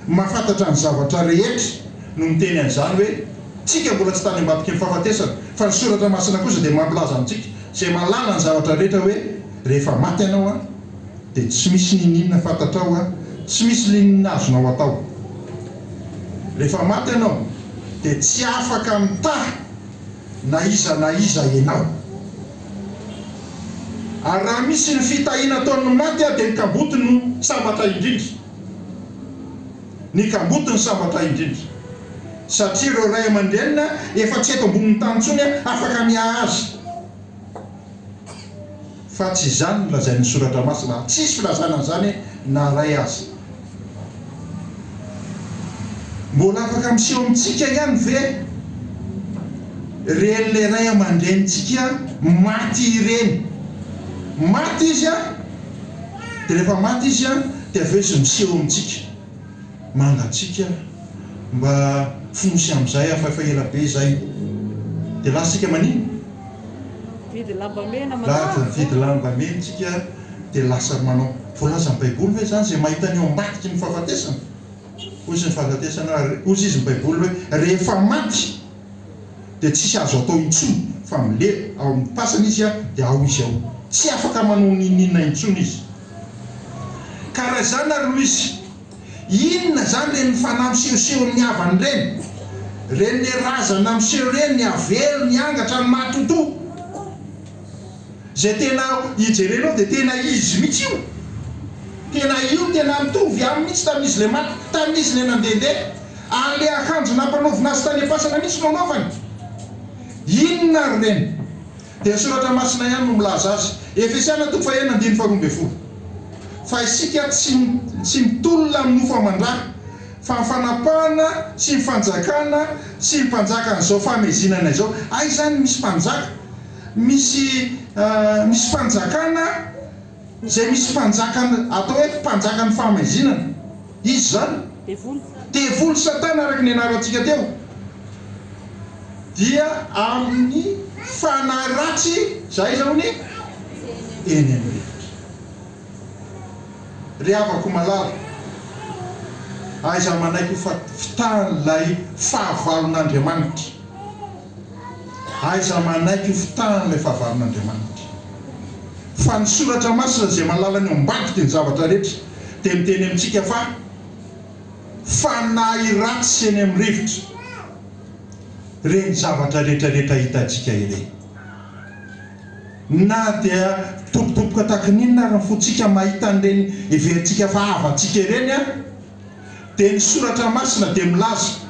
Ny mahafantatra ny zavatra rehetra no miteny an'izany hoe tsika mbola tsy tany ambadiky ny fahafatesana, fa ny soratra masina kosa dia mampilaza amintsika izay mahalala ny zavatra rehetra hoe rehefa maty ianao an dia tsy misy niniana fantatrao an tsy misy linina azonao atao rehefa maty ianao dia tsy afaka mitaha na iza na iza ianao ary raha misy ny fitahiana ataon'ny maty dia ny kamboty no sambatra indrindra. ny kamboty ny sambatra indrindra satria ireo ray aman-drenina efa tsy eto ambonin'ny tany intsony afaka miahaza fa tsy izany no lazain'ny soratra masina ary tsisy filazana an'izany na iray aza. Mbola afaka miseho amintsika ihany ve iren'ilay ray aman-drenintsika maty ireny? Maty izy an! Dia rehefa maty izy an, dia avy eo izy miseho amintsika, manda antsika mba fonosy amin'izay aho fa efa ela be izay. Dia lasa isika manino? Mividy lamba mena manao azy an. Mividy lamba mena isika dia lasa manao. Voalazan'ny Baiboly ve izany izay mahita ny eo ambadiky ny fahafatesana? Hoy izy ny fahafatesana, hoy izy ny Baiboly hoe rehefa maty. dia tsisy azo atao intsony fa milery ao amin'ny fasana izy dia ao izy ao tsy afaka manao n'inon'inona intsony izy karaha izany ary Louise inona izany reny fanahy misehoseho ny havany ireny reny le razana miseho ireny avelo ny angatra ny maty ho toa Zay tena ijerenao dia tena izy mihitsy io. Tena io tena mitovy aminy mihitsy tamin'izy le maty, tamin'izy le nandehandeha. Ary le akanjo nampanaovina azy tany am-pasana mihitsy no anaovany. Inona ary ireny? Dia ny soratra masina ihany no milaza azy. Efesiana toko fahenina andininy faharoa ambin'ny folo. Fa isika tsy tsy mitolona amin'ny nofo aman-dra, fa ny fanapahana sy ny fanjakana sy ny mpanjakan'izao fahamezinana izao. Aiza any misy mpanjaka? Misy misy fanjakana izay misy mpanjaka atao hoe mpanjakan'ny fahamaizinana. Iza izany? Devoly satana araka ny nianarantsika teo. Dia amin'ny fanahy ratsy izay aiza hono? Eny amin'ny rivotra. Ry havako malala, aiza manaiky ho fitahan'ilay fahavalon'Andriamanitra. Aiza manaiky ho fitahany ilay fahavalon'Andriamanitra. Fa ny soratra masina izay mahalala ny ao ambadika ny zavatra rehetra dia miteny amintsika fa fanahy ratsy sy eny amin'ny rivotra ireny zavatra rehetrarehetra hitantsika ireny. Na dia mitobotoboka tahaka ny inona ary ny fontsika mahita an'ireny heverintsika fa havantsika ireny aza. dia ny Soratra Masina dia milaza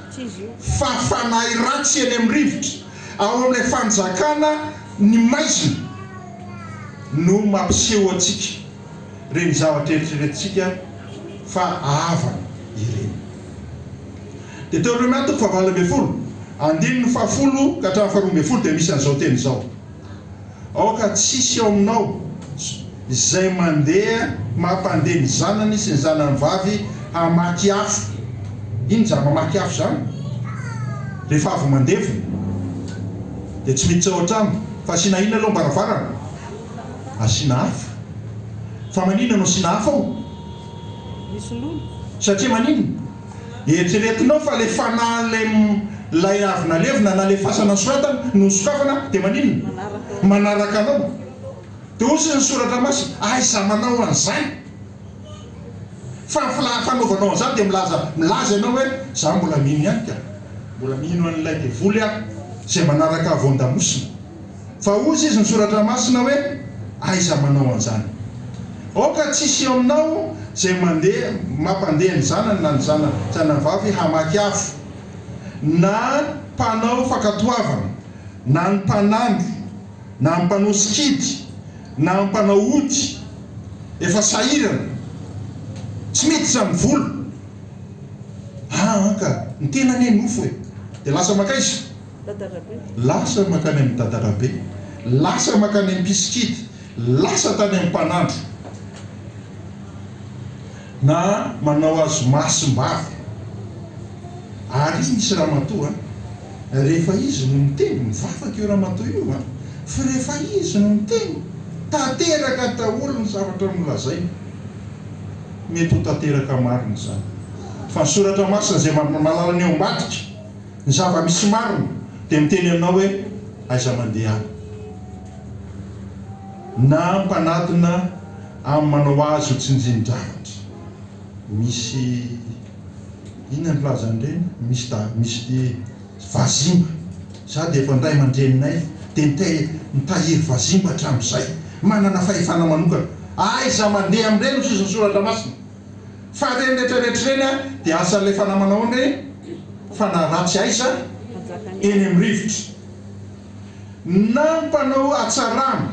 fa fanahy ratsy eny amin'ny rivotra, ao amin'ilay fanjakana ny maizina no mampiseho antsika ireny zavatra eritreretintsika fa haavana ireny. Deteonomia toko fahavalo ambin'ny folo, andininy fahafolo ka hatramin'ny faharoa ambin'ny folo dia misy an'izao teny izao. Aoka tsisy ao aminao izay mandeha mampandeha ny zanany sy ny zanany vavy hamaky afo. Inona izany mamaky afo izany? Rehefa avy mandevina dia tsy miditra ao an-trano fa asiana inona aloha ny varavarana? Asiana afo. Fa maninona no asiana afo ao? Satria maninona? Eritreretinao fa le fanahin' lay lay avy nalevina na le fasana nosoratana no nosokafana de maninona? Manaraka anao. De hoy sisa ny soratra masina, aiza manao an'izay? Fa ny fla fanaovanao an'izany dia milaza milaza ianao hoe za mbola mino ihany ka. Mbola mino an'ilay devoly aho, izay manaraka voan-damosina. Fa hozy izy ny soratra masina hoe, Aiza manao an'izany? Aoka tsy hisy eo aminao izay mandeha mampandeha ny zanany na ny zana zanavavy hamaky afo, na mpanao fankatoavana, na ny mpanandro, na ny mpanao sikidy, na ny mpanao ody, efa sahirana, tsy miditra amin'ny vola. Aa ka ny tenany e nofo e! Dia lasa mankaiza? Dadarabe. Lasa mankany amin'ny Dadarabe. Lasa mankany amin'ny Mpisikidy. Lasa tany amin'ny Mpanandro. Na manao azy mahasim-bava. Ary izy misy Ramatoa an! Rehefa izy no miteny, mivavaka io Ramatoa io an! Fa rehefa izy no miteny, tanteraka daholo ny zavatra nolazainy. Mety ho tanteraka marina izany. Fa ny Soratra Masina izay mahalala ny ao ambadika. ny zava-misy marina dia miteny aminao hoe aiza mandehana. Na mpanatona amin'ny manao azy ho tsinjin-javatra. Misy inona ny filazan'ireny? Misy da misy vazimba. Za dia efa ny ray aman-dreninay dia mitahiry vazimba hatramin'izay. Manana fahefana manokana. Aiza mandeha amin'ireny ny soson'ny soratra masina? Fa reny rehetra rehetra reny a dia asan'ilay fanahy manao ny fanahy ratsy aiza? Eny amin'ny rivotra. Na ny mpanao hatsarana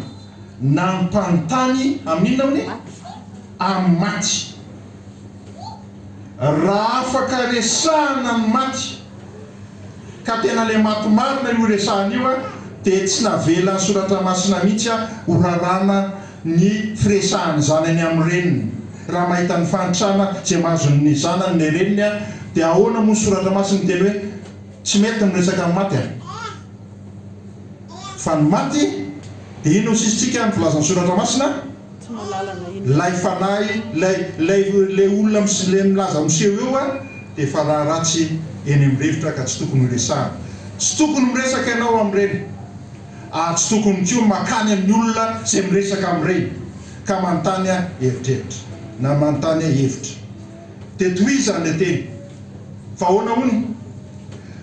na ny mpanontany amin'inona hono? Amin'ny maty. Raha afaka resahana ny maty ka tena ilay maty marina io resahana io a dia tsy navelan'ny soratra masina mihitsy a ho raràna ny firesahan'ny zanany amin'ny reniny, raha mahita ny fahantrana izay mahazon'ny zanany ny reniny dia ahoana moa ny soratra masina miteny hoe tsy mety ny miresaka amin'ny maty a! fa ny maty dia inona hoy sisintsika ny filazan'ny soratra masina? ilay fanahy ilay ilay ilay olona mis le milaza miseho eo a! dia efa raha ratsy eny amin'ny rivotra ka tsy tokony horesahana, tsy tokony miresaka ianao amin'ny reny. ary tsy tokony koa mankany amin'ny olona izay miresaka amin'ireny ka manontany eritreritra na manontany hevitra. Dia tohizany ilay teny fa ahoana hono?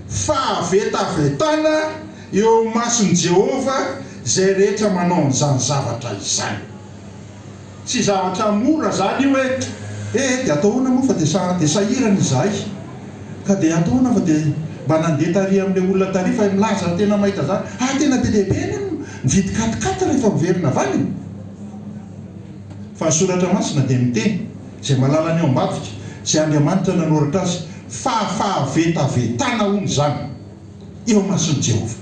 Fahavetavetana eo imason'i Jehovah izay rehetra manao an'izany zavatra izany. Tsy zavatra mora zany io eh. Eh eh dia atao ahoana moa fa dia sa dia sahirana izahay ka dia atao ahoana fa dia mba nandeha tary amin'ilay olona tary fa milaza tena mahita zany ah tena be dia be anie ny mividy quat quat rehefa miverina avy any fa ny soratra masina dia miteny izay mahalala ny ao ambadika izay Andriamanitra nanoratra azy fahafahavetavetana hono izany eo imason'i Jehovah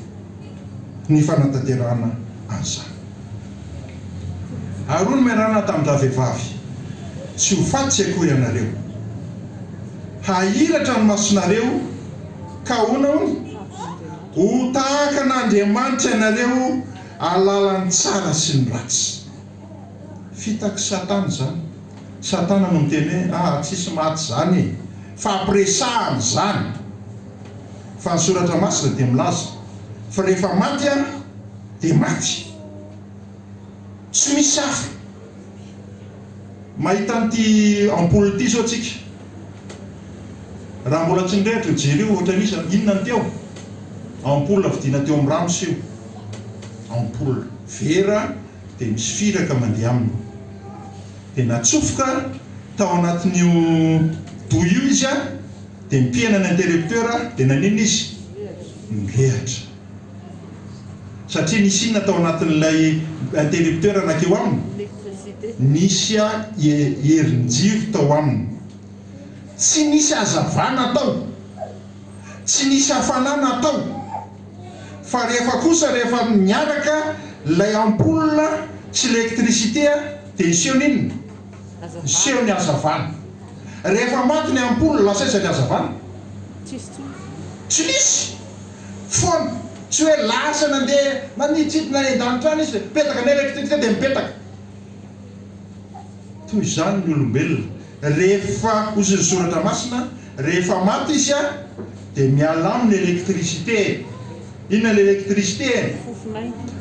ny fanatanterahana an'izany. Aron'i Merana tamin-dravehivavy, Tsy ho faty tsy akory ianareo. Hahiratra ny masonareo, ka ahoana hono? Ho tahaka an'Andriamanitra ianareo, ahalala ny tsara sy ny ratsy. Fitaky satana izany. Satana no miteny hoe aa tsisy maty izany e! Fampiresahana izany. Fa ny soratra masina dia milaza fa rehefa maty an dia maty. Tsy misy hafa. Mahita an'ity ampoule ity izao tsika. Raha mbola tsy nirehitra io jeri io ohatran'ny iza? Inona no teo? Ampoule vidina teo amin'ny Rams io. Ampoule vera. dia misy firaka mandeha aminy, dia natsofoka tao anatin'io douille io izy an, dia nipihana ny interrupteur dia nanina izy? nirehatra, satria nisy inona tao anatin'ilay interrupteur nankeo aminy? nisy herin-jiro tao aminy, tsy nisy hazavana tao, tsy nisy hafana natao. fa rehefa kosa rehefa miaraka ilay ampoule sy lectricité dia ny seho n'inona? Ny seho ny hazavana. Rehefa maty ny ampoule lasa aiza ny hazavana? Tsy misy! Foana! Tsy hoe lasa nandeha naniditsidina eny an-danitra any izy, mipetaka ny lectricité dia mipetaka. Toy izany ny olombelona, rehefa hozy ny soratra masina, rehefa maty izy a, dia miala aminy électricité e! Inona ilay électricité e?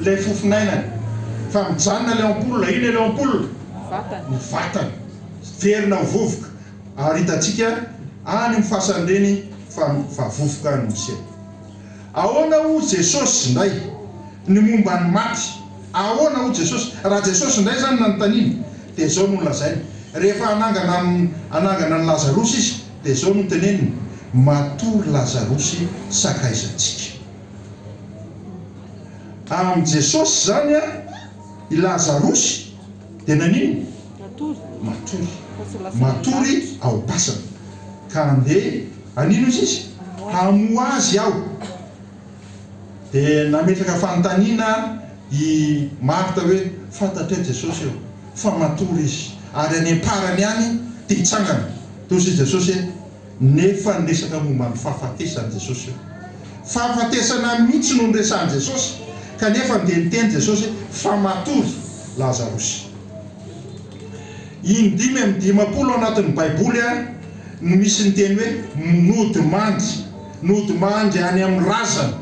Ilay fofonainany. Fa mijanona ilay ampoule, inona ilay ampoule? Ny vatany. Miverina ho vovoka. Ary hitantsika any amin'ny fasan'ny reny fa vovoka any no miseho. Ahoana hoy Jesosy indray ny momba ny maty? Ahoana hoy Jesosy? Raha Jesosy indray izany no nanontaniana, dia izao no nolazainy. Rehefa hanangana hanangana an'i Lazarosy Izy, dia izao no teneniny, Matory Lazarosy sakaizantsika. Amin'i Jesosy izany, i Lazarosy dia naninona? Matory. Matory ao am-pasana. Ka andeha. Anino izy izy? Hamoha azy aho. Dia nametraka fanontaniana i Marta hoe, Fantatray Jesosy eo, fa matory izy. Ary any am-parany ihany dia hitsangana. Toy izay Jesosy hoe, Nefa niresaka momba ny fahafatesany Jesosy io. Fahafatesana mihitsy no niresahan'i Jesosy, kanefa dia niteny Jesosy hoe, Fa matory Lazarosy. In-dimy amby dimampolo ao anatin'ny Baiboly. no misy ny teny hoe nody mandry, nody mandry any amin'ny razana.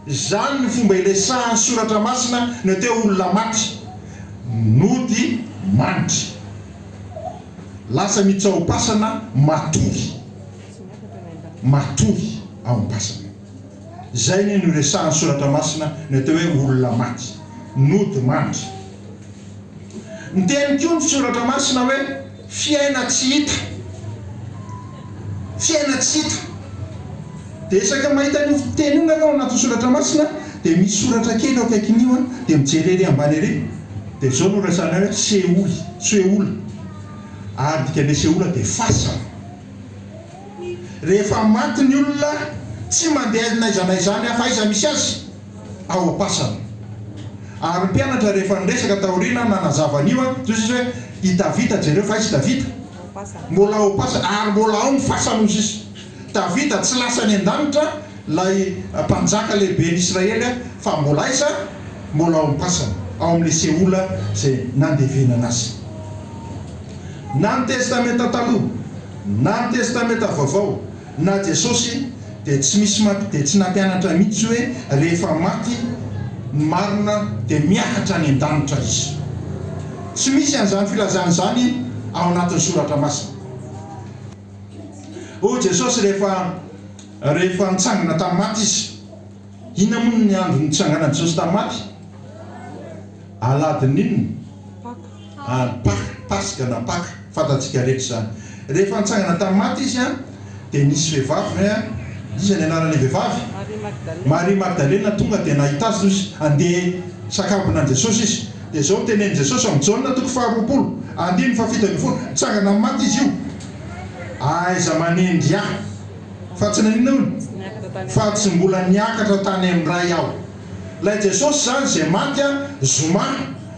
Izany no fomba iresahan'ny Soratra Masina ny hoe te olona maty, nody mandry. Lasa mitsaom-pasana matory, matory ao am-pasana. Izay ny noresahan'ny Soratra Masina ny atao hoe olona maty, nody mandry. Miteny koa ny Soratra Masina hoe fiaina tsy hita. Fiaina tsy hita. Dia isaky ny mahita an'io teny io ianao ao anatin'ny Soratra Masina dia misy soratra kely eo akaikin'io an, dia mijery ery ambany ery dia izao no resahana hoe seoly, Seoul, ary ny dikan'ilay seola dia fasana. Rehefa maty ny olona, tsy mandeha n'aiza n'aiza any afa aiza misy azy ao am-pasana. Ary ny mpianatra rehefa niresaka taoriana nanazava an'io an, toy izany hoe, i Davida, jereo fa aiza i Davida? Mbola ao am-pasana, ary mbola ao ny fasany hoy sisa. Davida tsy lasa any an-danitra, ilay mpanjaka lehiben'ny Israely an, fa mbola aiza? Mbola ao am-pasana, ao amin'ilay Seola izay nandevenana azy. Na ny Testamenta Taloha. Na ny Testamenta Vaovao na Jesosy dia tsy misy maty dia tsy nampianatra mihitsy hoe rehefa maty ny marina dia miakatra any an-danitra izy. Tsy misy an'izany filazana izany ao anatin'ny Soratra Masina. Hoy Jesosy rehefa rehefa nitsangana tamin'ny maty izy. Inona moa ny andro nitsanganan'i Jesosy tamin'ny maty? Aladin' inona? Paka. An, Paka, Paska na Paka, fantatsika rehetra izany. Rehefa nitsangana tamin'ny maty Izy an, dia nisy vehivavy an, iza ny anaran'ilay vehivavy? Maria Magdalena. Maria Magdalena tonga dia nahita Azy hoy izy, andeha sakambina an'i Jesosy izy. Dia izao no tenenin'i Jesosy amin'i Jaona toko faharoapolo, andininy fahafito ambin'ny folo, Nitsangana amin'ny maty Izy io. Aiza manendry Ahy? Fa tsy naninona hono? Fa tsy mbola niakatra tany amin'ny Ray aho. Ilay Jesosy izany izay maty an, zoma,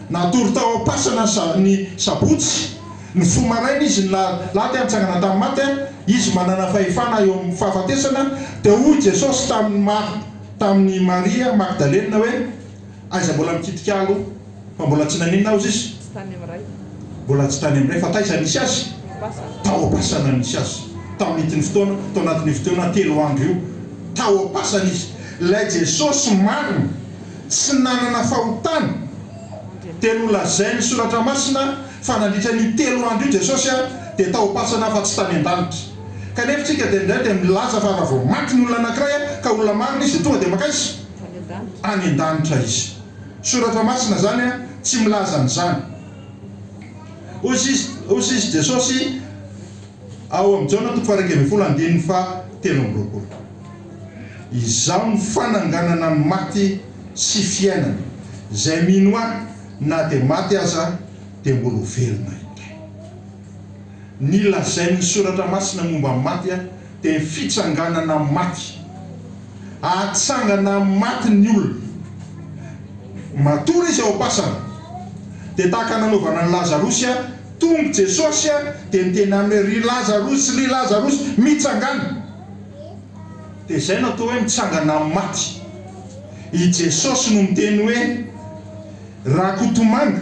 natory tao am-pasana ny sa, ny sabotsy, ny fo maraina Izy ny la, la dia nitsangana tamin'ny maty an, Izy manana fahefana eo amin'ny fahafatesana, dia hoy Jesosy tamin'i Mar, tamin'i Maria Magdalena hoe, Aiza mbola mikitika aloha? Fa mbola tsy naninona ozy izy? Tsy tany amin'ny Ray. Mbola tsy tany amin'ny Ray. Fa taiza nisy azy? Am-pasana. Tao am-pasana nisy azy. Tamin'ity ny fotoana, tao anatin'io fotoana telo andro io. Tao am-pasana izy. Ilay Jesosy marina, tsy nanana fahotana, dia nolazain'ny Soratra Masina fa nandritra an'io telo andro io Jesosy dia tao am-pasana fa tsy tany an-danitra. Kanefa isika dia indraindray dia milaza fa raha vao maty ny olona anankiray ka olona marina izy dia tonga dia mankaiza? Any an-danitra. Any an-danitra izy. Soratra masina zany a tsy milaza an'izany. Hoy izy Jesosy ao amin'i Jaona toko faha-iraika ambin'ny folo andininy faha-telo amby roapolo, Izaho no fananganana ny maty sy fiainana, izay mino Ahy, na dia maty aza dia mbola ho velona indray. ny lazain'ny Soratra Masina momba ny maty dia fitsanganana amin'ny maty. Hahatsangana amin'ny maty ny olona. Matory izy ao am-pasana. Dia tahaka ny nanaovana an'i Lazarosy, tonga i Jesosy dia niteny aminy hoe, Ry Lazarosy, ry Lazarosy, mitsangàna! Dia izay no atao hoe mitsangana amin'ny maty. I Jesosy no miteny hoe. Rakotomanga,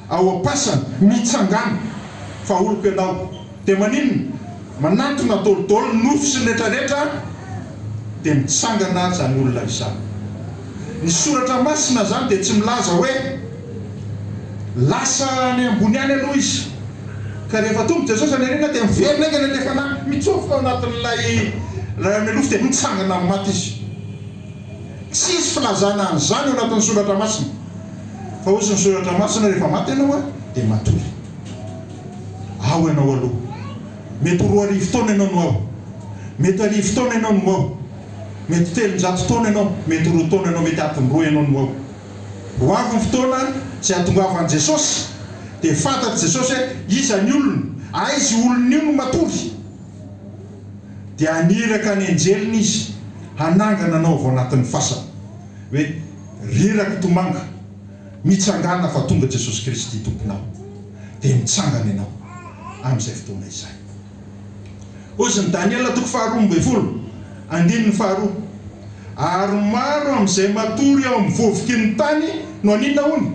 ao am-pasana, mitsangàna, fa oloko ianao, dia maninona? Manantona dôlidôly, nofy sy ny retraretra, dia mitsangana izany olona izany. Ny Soratra Masina izany dia tsy milaza hoe, Lasa any ambony any aloha izy, ka rehefa tonga i Jesosy any aoriana dia miverina haingana ilay fanahy, mitsofoka ao anatin'ilay Ray amin'ny nofy dia mitsangana amin'ny maty izy. Tsisy filazana an'izany ao anatin'ny soratra masina, fa hoy ny soratra masina rehefa maty ianao dia matory. Ao ianao aloha. Mety ho roa arivo taona ianao no ao. Mety arivo taona ianao no ao. Mety telonjato taona ianao, mety roa taona ianao, mety adiny roa ianao no ao. Ho avy ny fotoana izay hahatongavan'i Jesosy dia fantatr'i Jesosy hoe iza ny olona, aiza io olona io no matory. dia haniraka ny anjeliny izy hanangana anao avy ao anatin'ny fasana, hoe, Ry rakitomanga, mitsangàna fa tonga Jesosy Kristy Tomponao. Dia mitsangana ianao amin'izay fotoana izay. Ozy ny Daniela toko faharoa ambin'ny folo, andininy faharoa, Ary maro amin'izay matory eo amin'ny vovoky ny tany no haninona hono?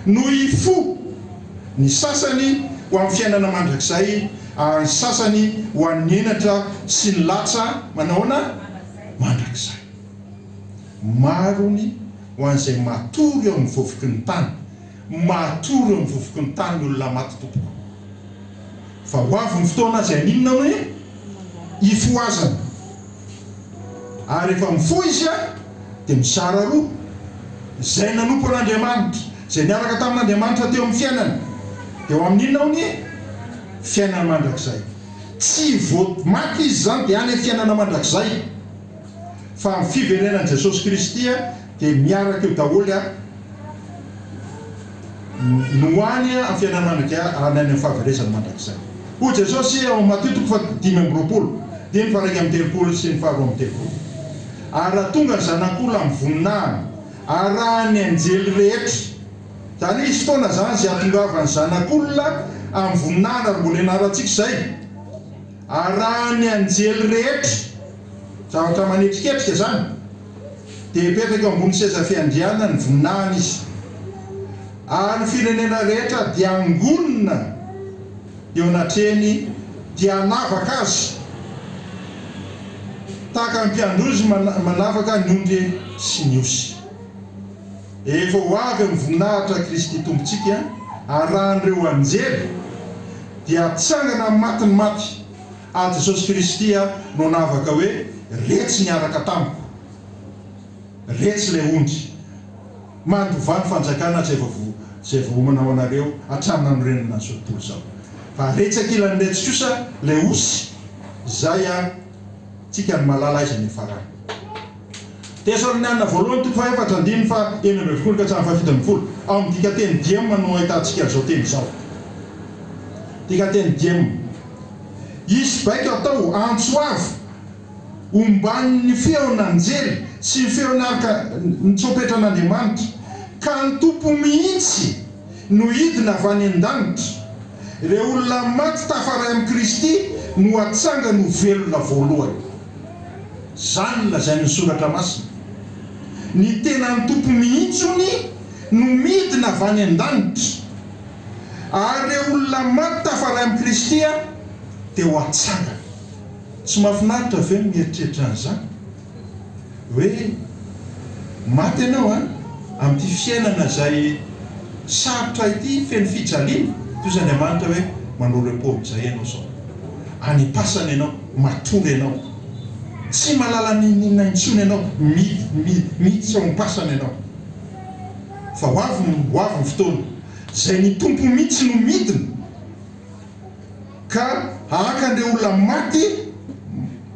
No hifoha. Ny sasany ho amin'ny fiainana mandrakizay ary ny sasany ho an'ny henatra sy ny latsa manahoana? mandrakizay. Marony ho an'izay matory eo amin'ny vovoky ny tany. Matory eo amin'ny vovoky ny tany ny olona maty tompoko. Fa ho avy ny fotoana izay haninona hoe? hifohazana. ary rehefa mifoha izy dia mizara roa, izay nanompo an'Andriamanitra, izay niaraka tamin'Andriamanitra teo amin'ny fiainany, dia ho amin'ny inona honie? Fiainana mandrakizay. Tsy vao maty izy izany dia any amin'ny fiainana mandrakizay, fa amin'ny fiverenan'i Jesosy Kristy dia miaraka eo daholo. no any amin'ny fiainan'ny mandrakia ary ny any amin'ny fahaverezany mandrakizay. Hoy Jesosy ao amin'ny Matio toko fahadimy amby roapolo, dimy faha iraika amby telopolo sy ny faha roa amby telopolo, Ary raha tonga ny Zanak'olona amin'ny voninahiny arahan'ny anjely rehetra, izany hoe hisy fotoana izany izay hahatongavan'ny Zanak'olona amin'ny voninahiny, ary mbola ianarantsika izay, arahan'ny anjely rehetra, Zavatra manetriketrika izany. Dia hipetraka eo ambony seza fiandrianana ny voninahiny izy. Ary ny firenena rehetra dia hangonina eo anatrehany dia hanavaka azy, tahaka ny mpiandry ozy manavaka ny ondry sy ny osy. Efa ho avy amin'ny voninahitra Kristy Tompontsika, arahan'ireo anjely, dia hatsangana amin'ny matin'ny maty. Ary Jesosy Kristy no navaka hoe, Retsy niaraka tamiko. Retsy ilay ondry. Mandovà ny fanjakana izay voaomana ho anareo hatramin'ny nanorenana an'izao tontolo izao. Fa retsy ankilany retsy kosa ilay osy izay an, tsika no malala aiza ny hiafarany. Tesalonianina Voalohany toko fahaefatra andininy faha enina ambin'ny folo ka hatramin'ny fahafito ambin'ny folo, ao amin'ny dikanteny diem no ahitantsika izao teny izao. Dikanteny diem. Hisy baiko atao antso avo omban'ny feon'anjely sy ny feon'arka ny tsompetran'Andriamanitra, ka ny Tompo mihitsy no hidina avy any an-danitra. Ireo olona maty tafaray amin'i Kristy no hatsangany ho velona voalohany. Izany no lazain'ny Soratra Masina. Ny tenan'ny Tompo mihitsy hono no midina avy any an-danitra, ary ireo olona maty tafaray amin'i Kristy dia ho atsangana. Tsy mahafinaritra ve ny mieritreritra an'izany? Hoe maty ianao amin'ity fiainana izay sarotra ity, feno fijaliana, toy izay Andriamanitra hoe manao repos amin'izay ianao sao any am-pasana ianao. Matory ianao. Tsy mahalala n'inon'inona intsony ianao. Mi, mi, miditra ao am-pasana ianao. Fa ho avy ny, ho avy ny fotoana, izay ny Tompo mihitsy no midina ka haka an'ireo olona maty,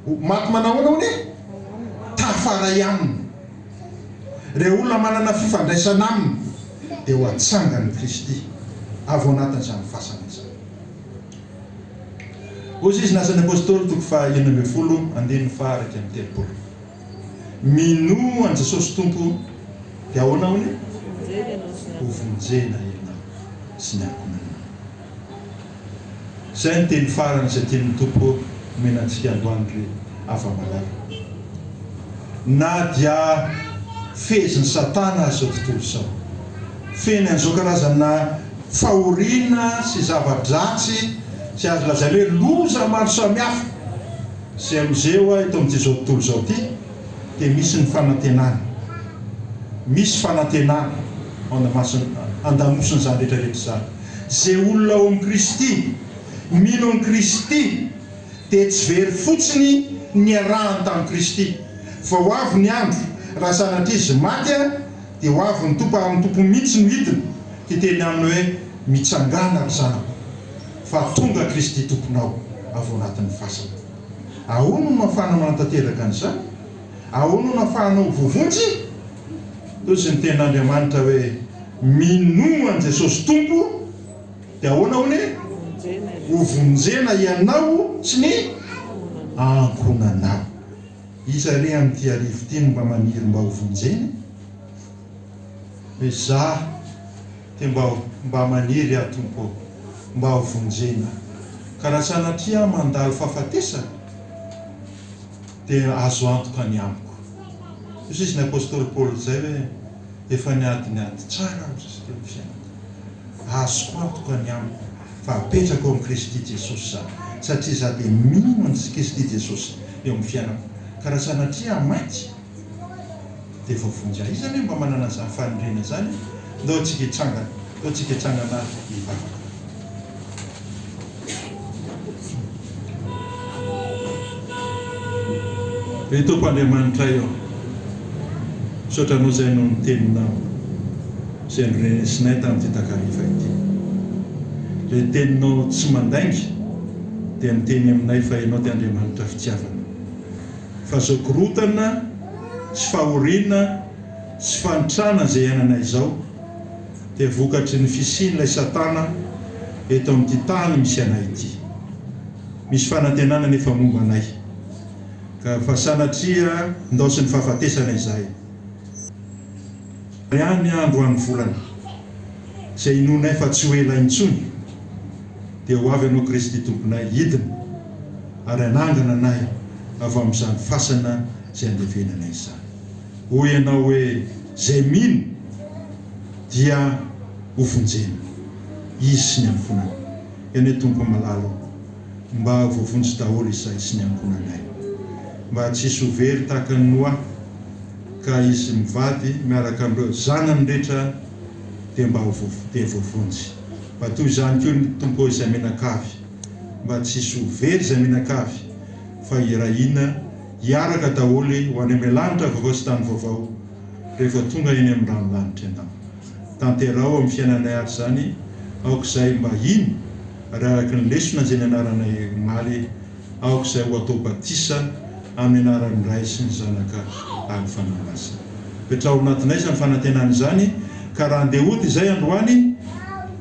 ho maty manahoana hono e? Tafaray Aminy. Ireo olona manana fifandraisana Aminy, dia ho atsangan'i Kristy avy ao anatin'izany fasana izany. Hoy Jesosy, ny Asan'ny Apôstôly toko faha enina ambin'ny folo andininy faha iraika amby telopolo. Minoa an'i Jesosy Tompo dia ahoana hono? Hovonjena ianao sy ny ankohonanao. Izay ny teny farany izay tian'ny Tompo omena antsika androany ry hava-malala. Na dia fehezin'i Satana aza izao tontolo izao, feno an'izao karazana fahoriana sy zava-dratsy sy azo lazaina hoe loza maro samihafa izay misehoa eto amin'ity izao tontolo izao ity dia misy ny fanantenana, misy fanantenana ao andamasiny, andamosiny izany rehetra rehetra izany. Izay olona ao amin'i Kristy, mino an'i Kristy dia tsy very fotsiny niarahany tamin'i Kristy vao avy ny andro raha sanatria izy maty, dia ho avy ny Tompo ary ny Tompo mihitsy no hidina, hiteny aminy hoe, Mitsangàna ry zanako, fa tonga Kristy Tomponao avy ao anatin'ny fasana. Ahoana no nahafahana manatanteraka an'izany? Ahoana no nahafahana ho voavonjy? Toy izay ny tenin'Andriamanitra hoe, Minoa an'i Jesosy Tompo, dia ahoana hono? Hovonjena ianao sy ny ankohonanao. Iza re amin'ity arivo ity no mba maniry mba ho vonjena? Hoe za te mba mba maniry aho Tompo ô, mba ho vonjena. Ka raha sanatria aho mandalo fahafatesana, dia azo antoka ny amiko. Hozizin'ny apostoly Paoly izay hoe, efa niady ny ady tsara aho, hoy izy teo, ny fiainako. Azoko antoka ny amiko. fa apetrako ao amin'i Kristy Jesosy za, satria za dia mino an'i Kristy Jesosy eo amin'ny fiainako, ka raha sanatria aho maty dia voavonjy ahy. Iza ve mba manana an'izany fahendrena izany? Ndao antsika hitsangana, ndao antsika hitsangana hivavaka. Ry Tompo Andriamanitray ô, misaotra Anao izay noho ny Teninao izay norenesinay tamin'ity takariva ity. Ilay Teninao tsy mandainga dia niteny aminay fa Ianao dia Andriamanitra fitiavana, fazokorotana sy fahoriana sy fanitrana izay iainanay izao, dia vokatry ny fisian'ilay Satana eto amin'ity tany misy anay ity. Misy fanantenana anefa momba anay, ka fa sanatria ndaosin'ny fahafatesana izahay. Ary any andro any volana, izay inoanay fa tsy ho ela intsony, dia ho avy Ianao Kristy Tomponay, hidina ary hanangana anay avy amin'izany fasana izay andevenanay izany. Hoy Ianao hoe. Izay mino dia ho vonjena, izy sy ny ankohonany. Eny e Tompo malala ô, mba voavonjy daholo izahay sy ny ankohonanay. Mba tsy hisy ho very tahaka an'i Noa, ka izy mivady miaraka amin'ireo zanany rehetra dia mba ho dia voavonjy. Mba toy izany koa ny Tompo ô izay mianakavy, mba tsy hisy ho very izay mianakavy, fa hirahina. hiaraka daholo ho any amin'ny lanitra vaovao sy tany vaovao rehefa tonga eny amin'ny ranolanitra ianao. Tanteraho amin'ny fiainanay ary izany aok'izay mba hino ary araka ny lesona izay nianaranay omaly aok'izay ho atao batisa amin'ny anaran'ny Ray sy ny Zanaka ary ny Fanahy Masina. Petraho ao anatinay izany fanantenana izany ka raha andeha hody izay androany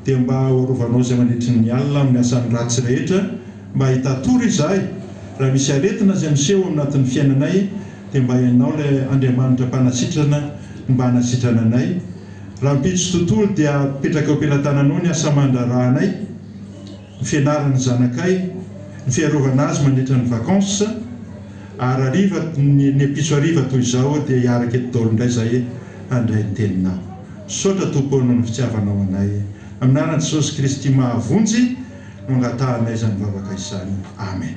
dia mba ho arovanao izay mandritry ny alina amin'ny asan'ny ratsy rehetra Mba hitatoro izahay raha misy aretina izay miseho amnatin'ny fiainanay dia mba ianao ilay Andriamanitra mpanasitrana ny mba hanasitrana anay. Rahampitso tontolo dia apetraka eo am-pelatananao ny asa aman-draharahanay, ny fianaran'ny zanakay, ny fiarovana azy mandritra ny vacances, ary hariva ny ampitso hariva toy izao dia hiaraka eto daholo indray izahay handray ny teninao. Misaotra Tompo o noho ny fitiavanao anay. Amin'ny anaran'i Jesosy Kristy mahavonjy. No angatahanay izany vavaka izany. Amen.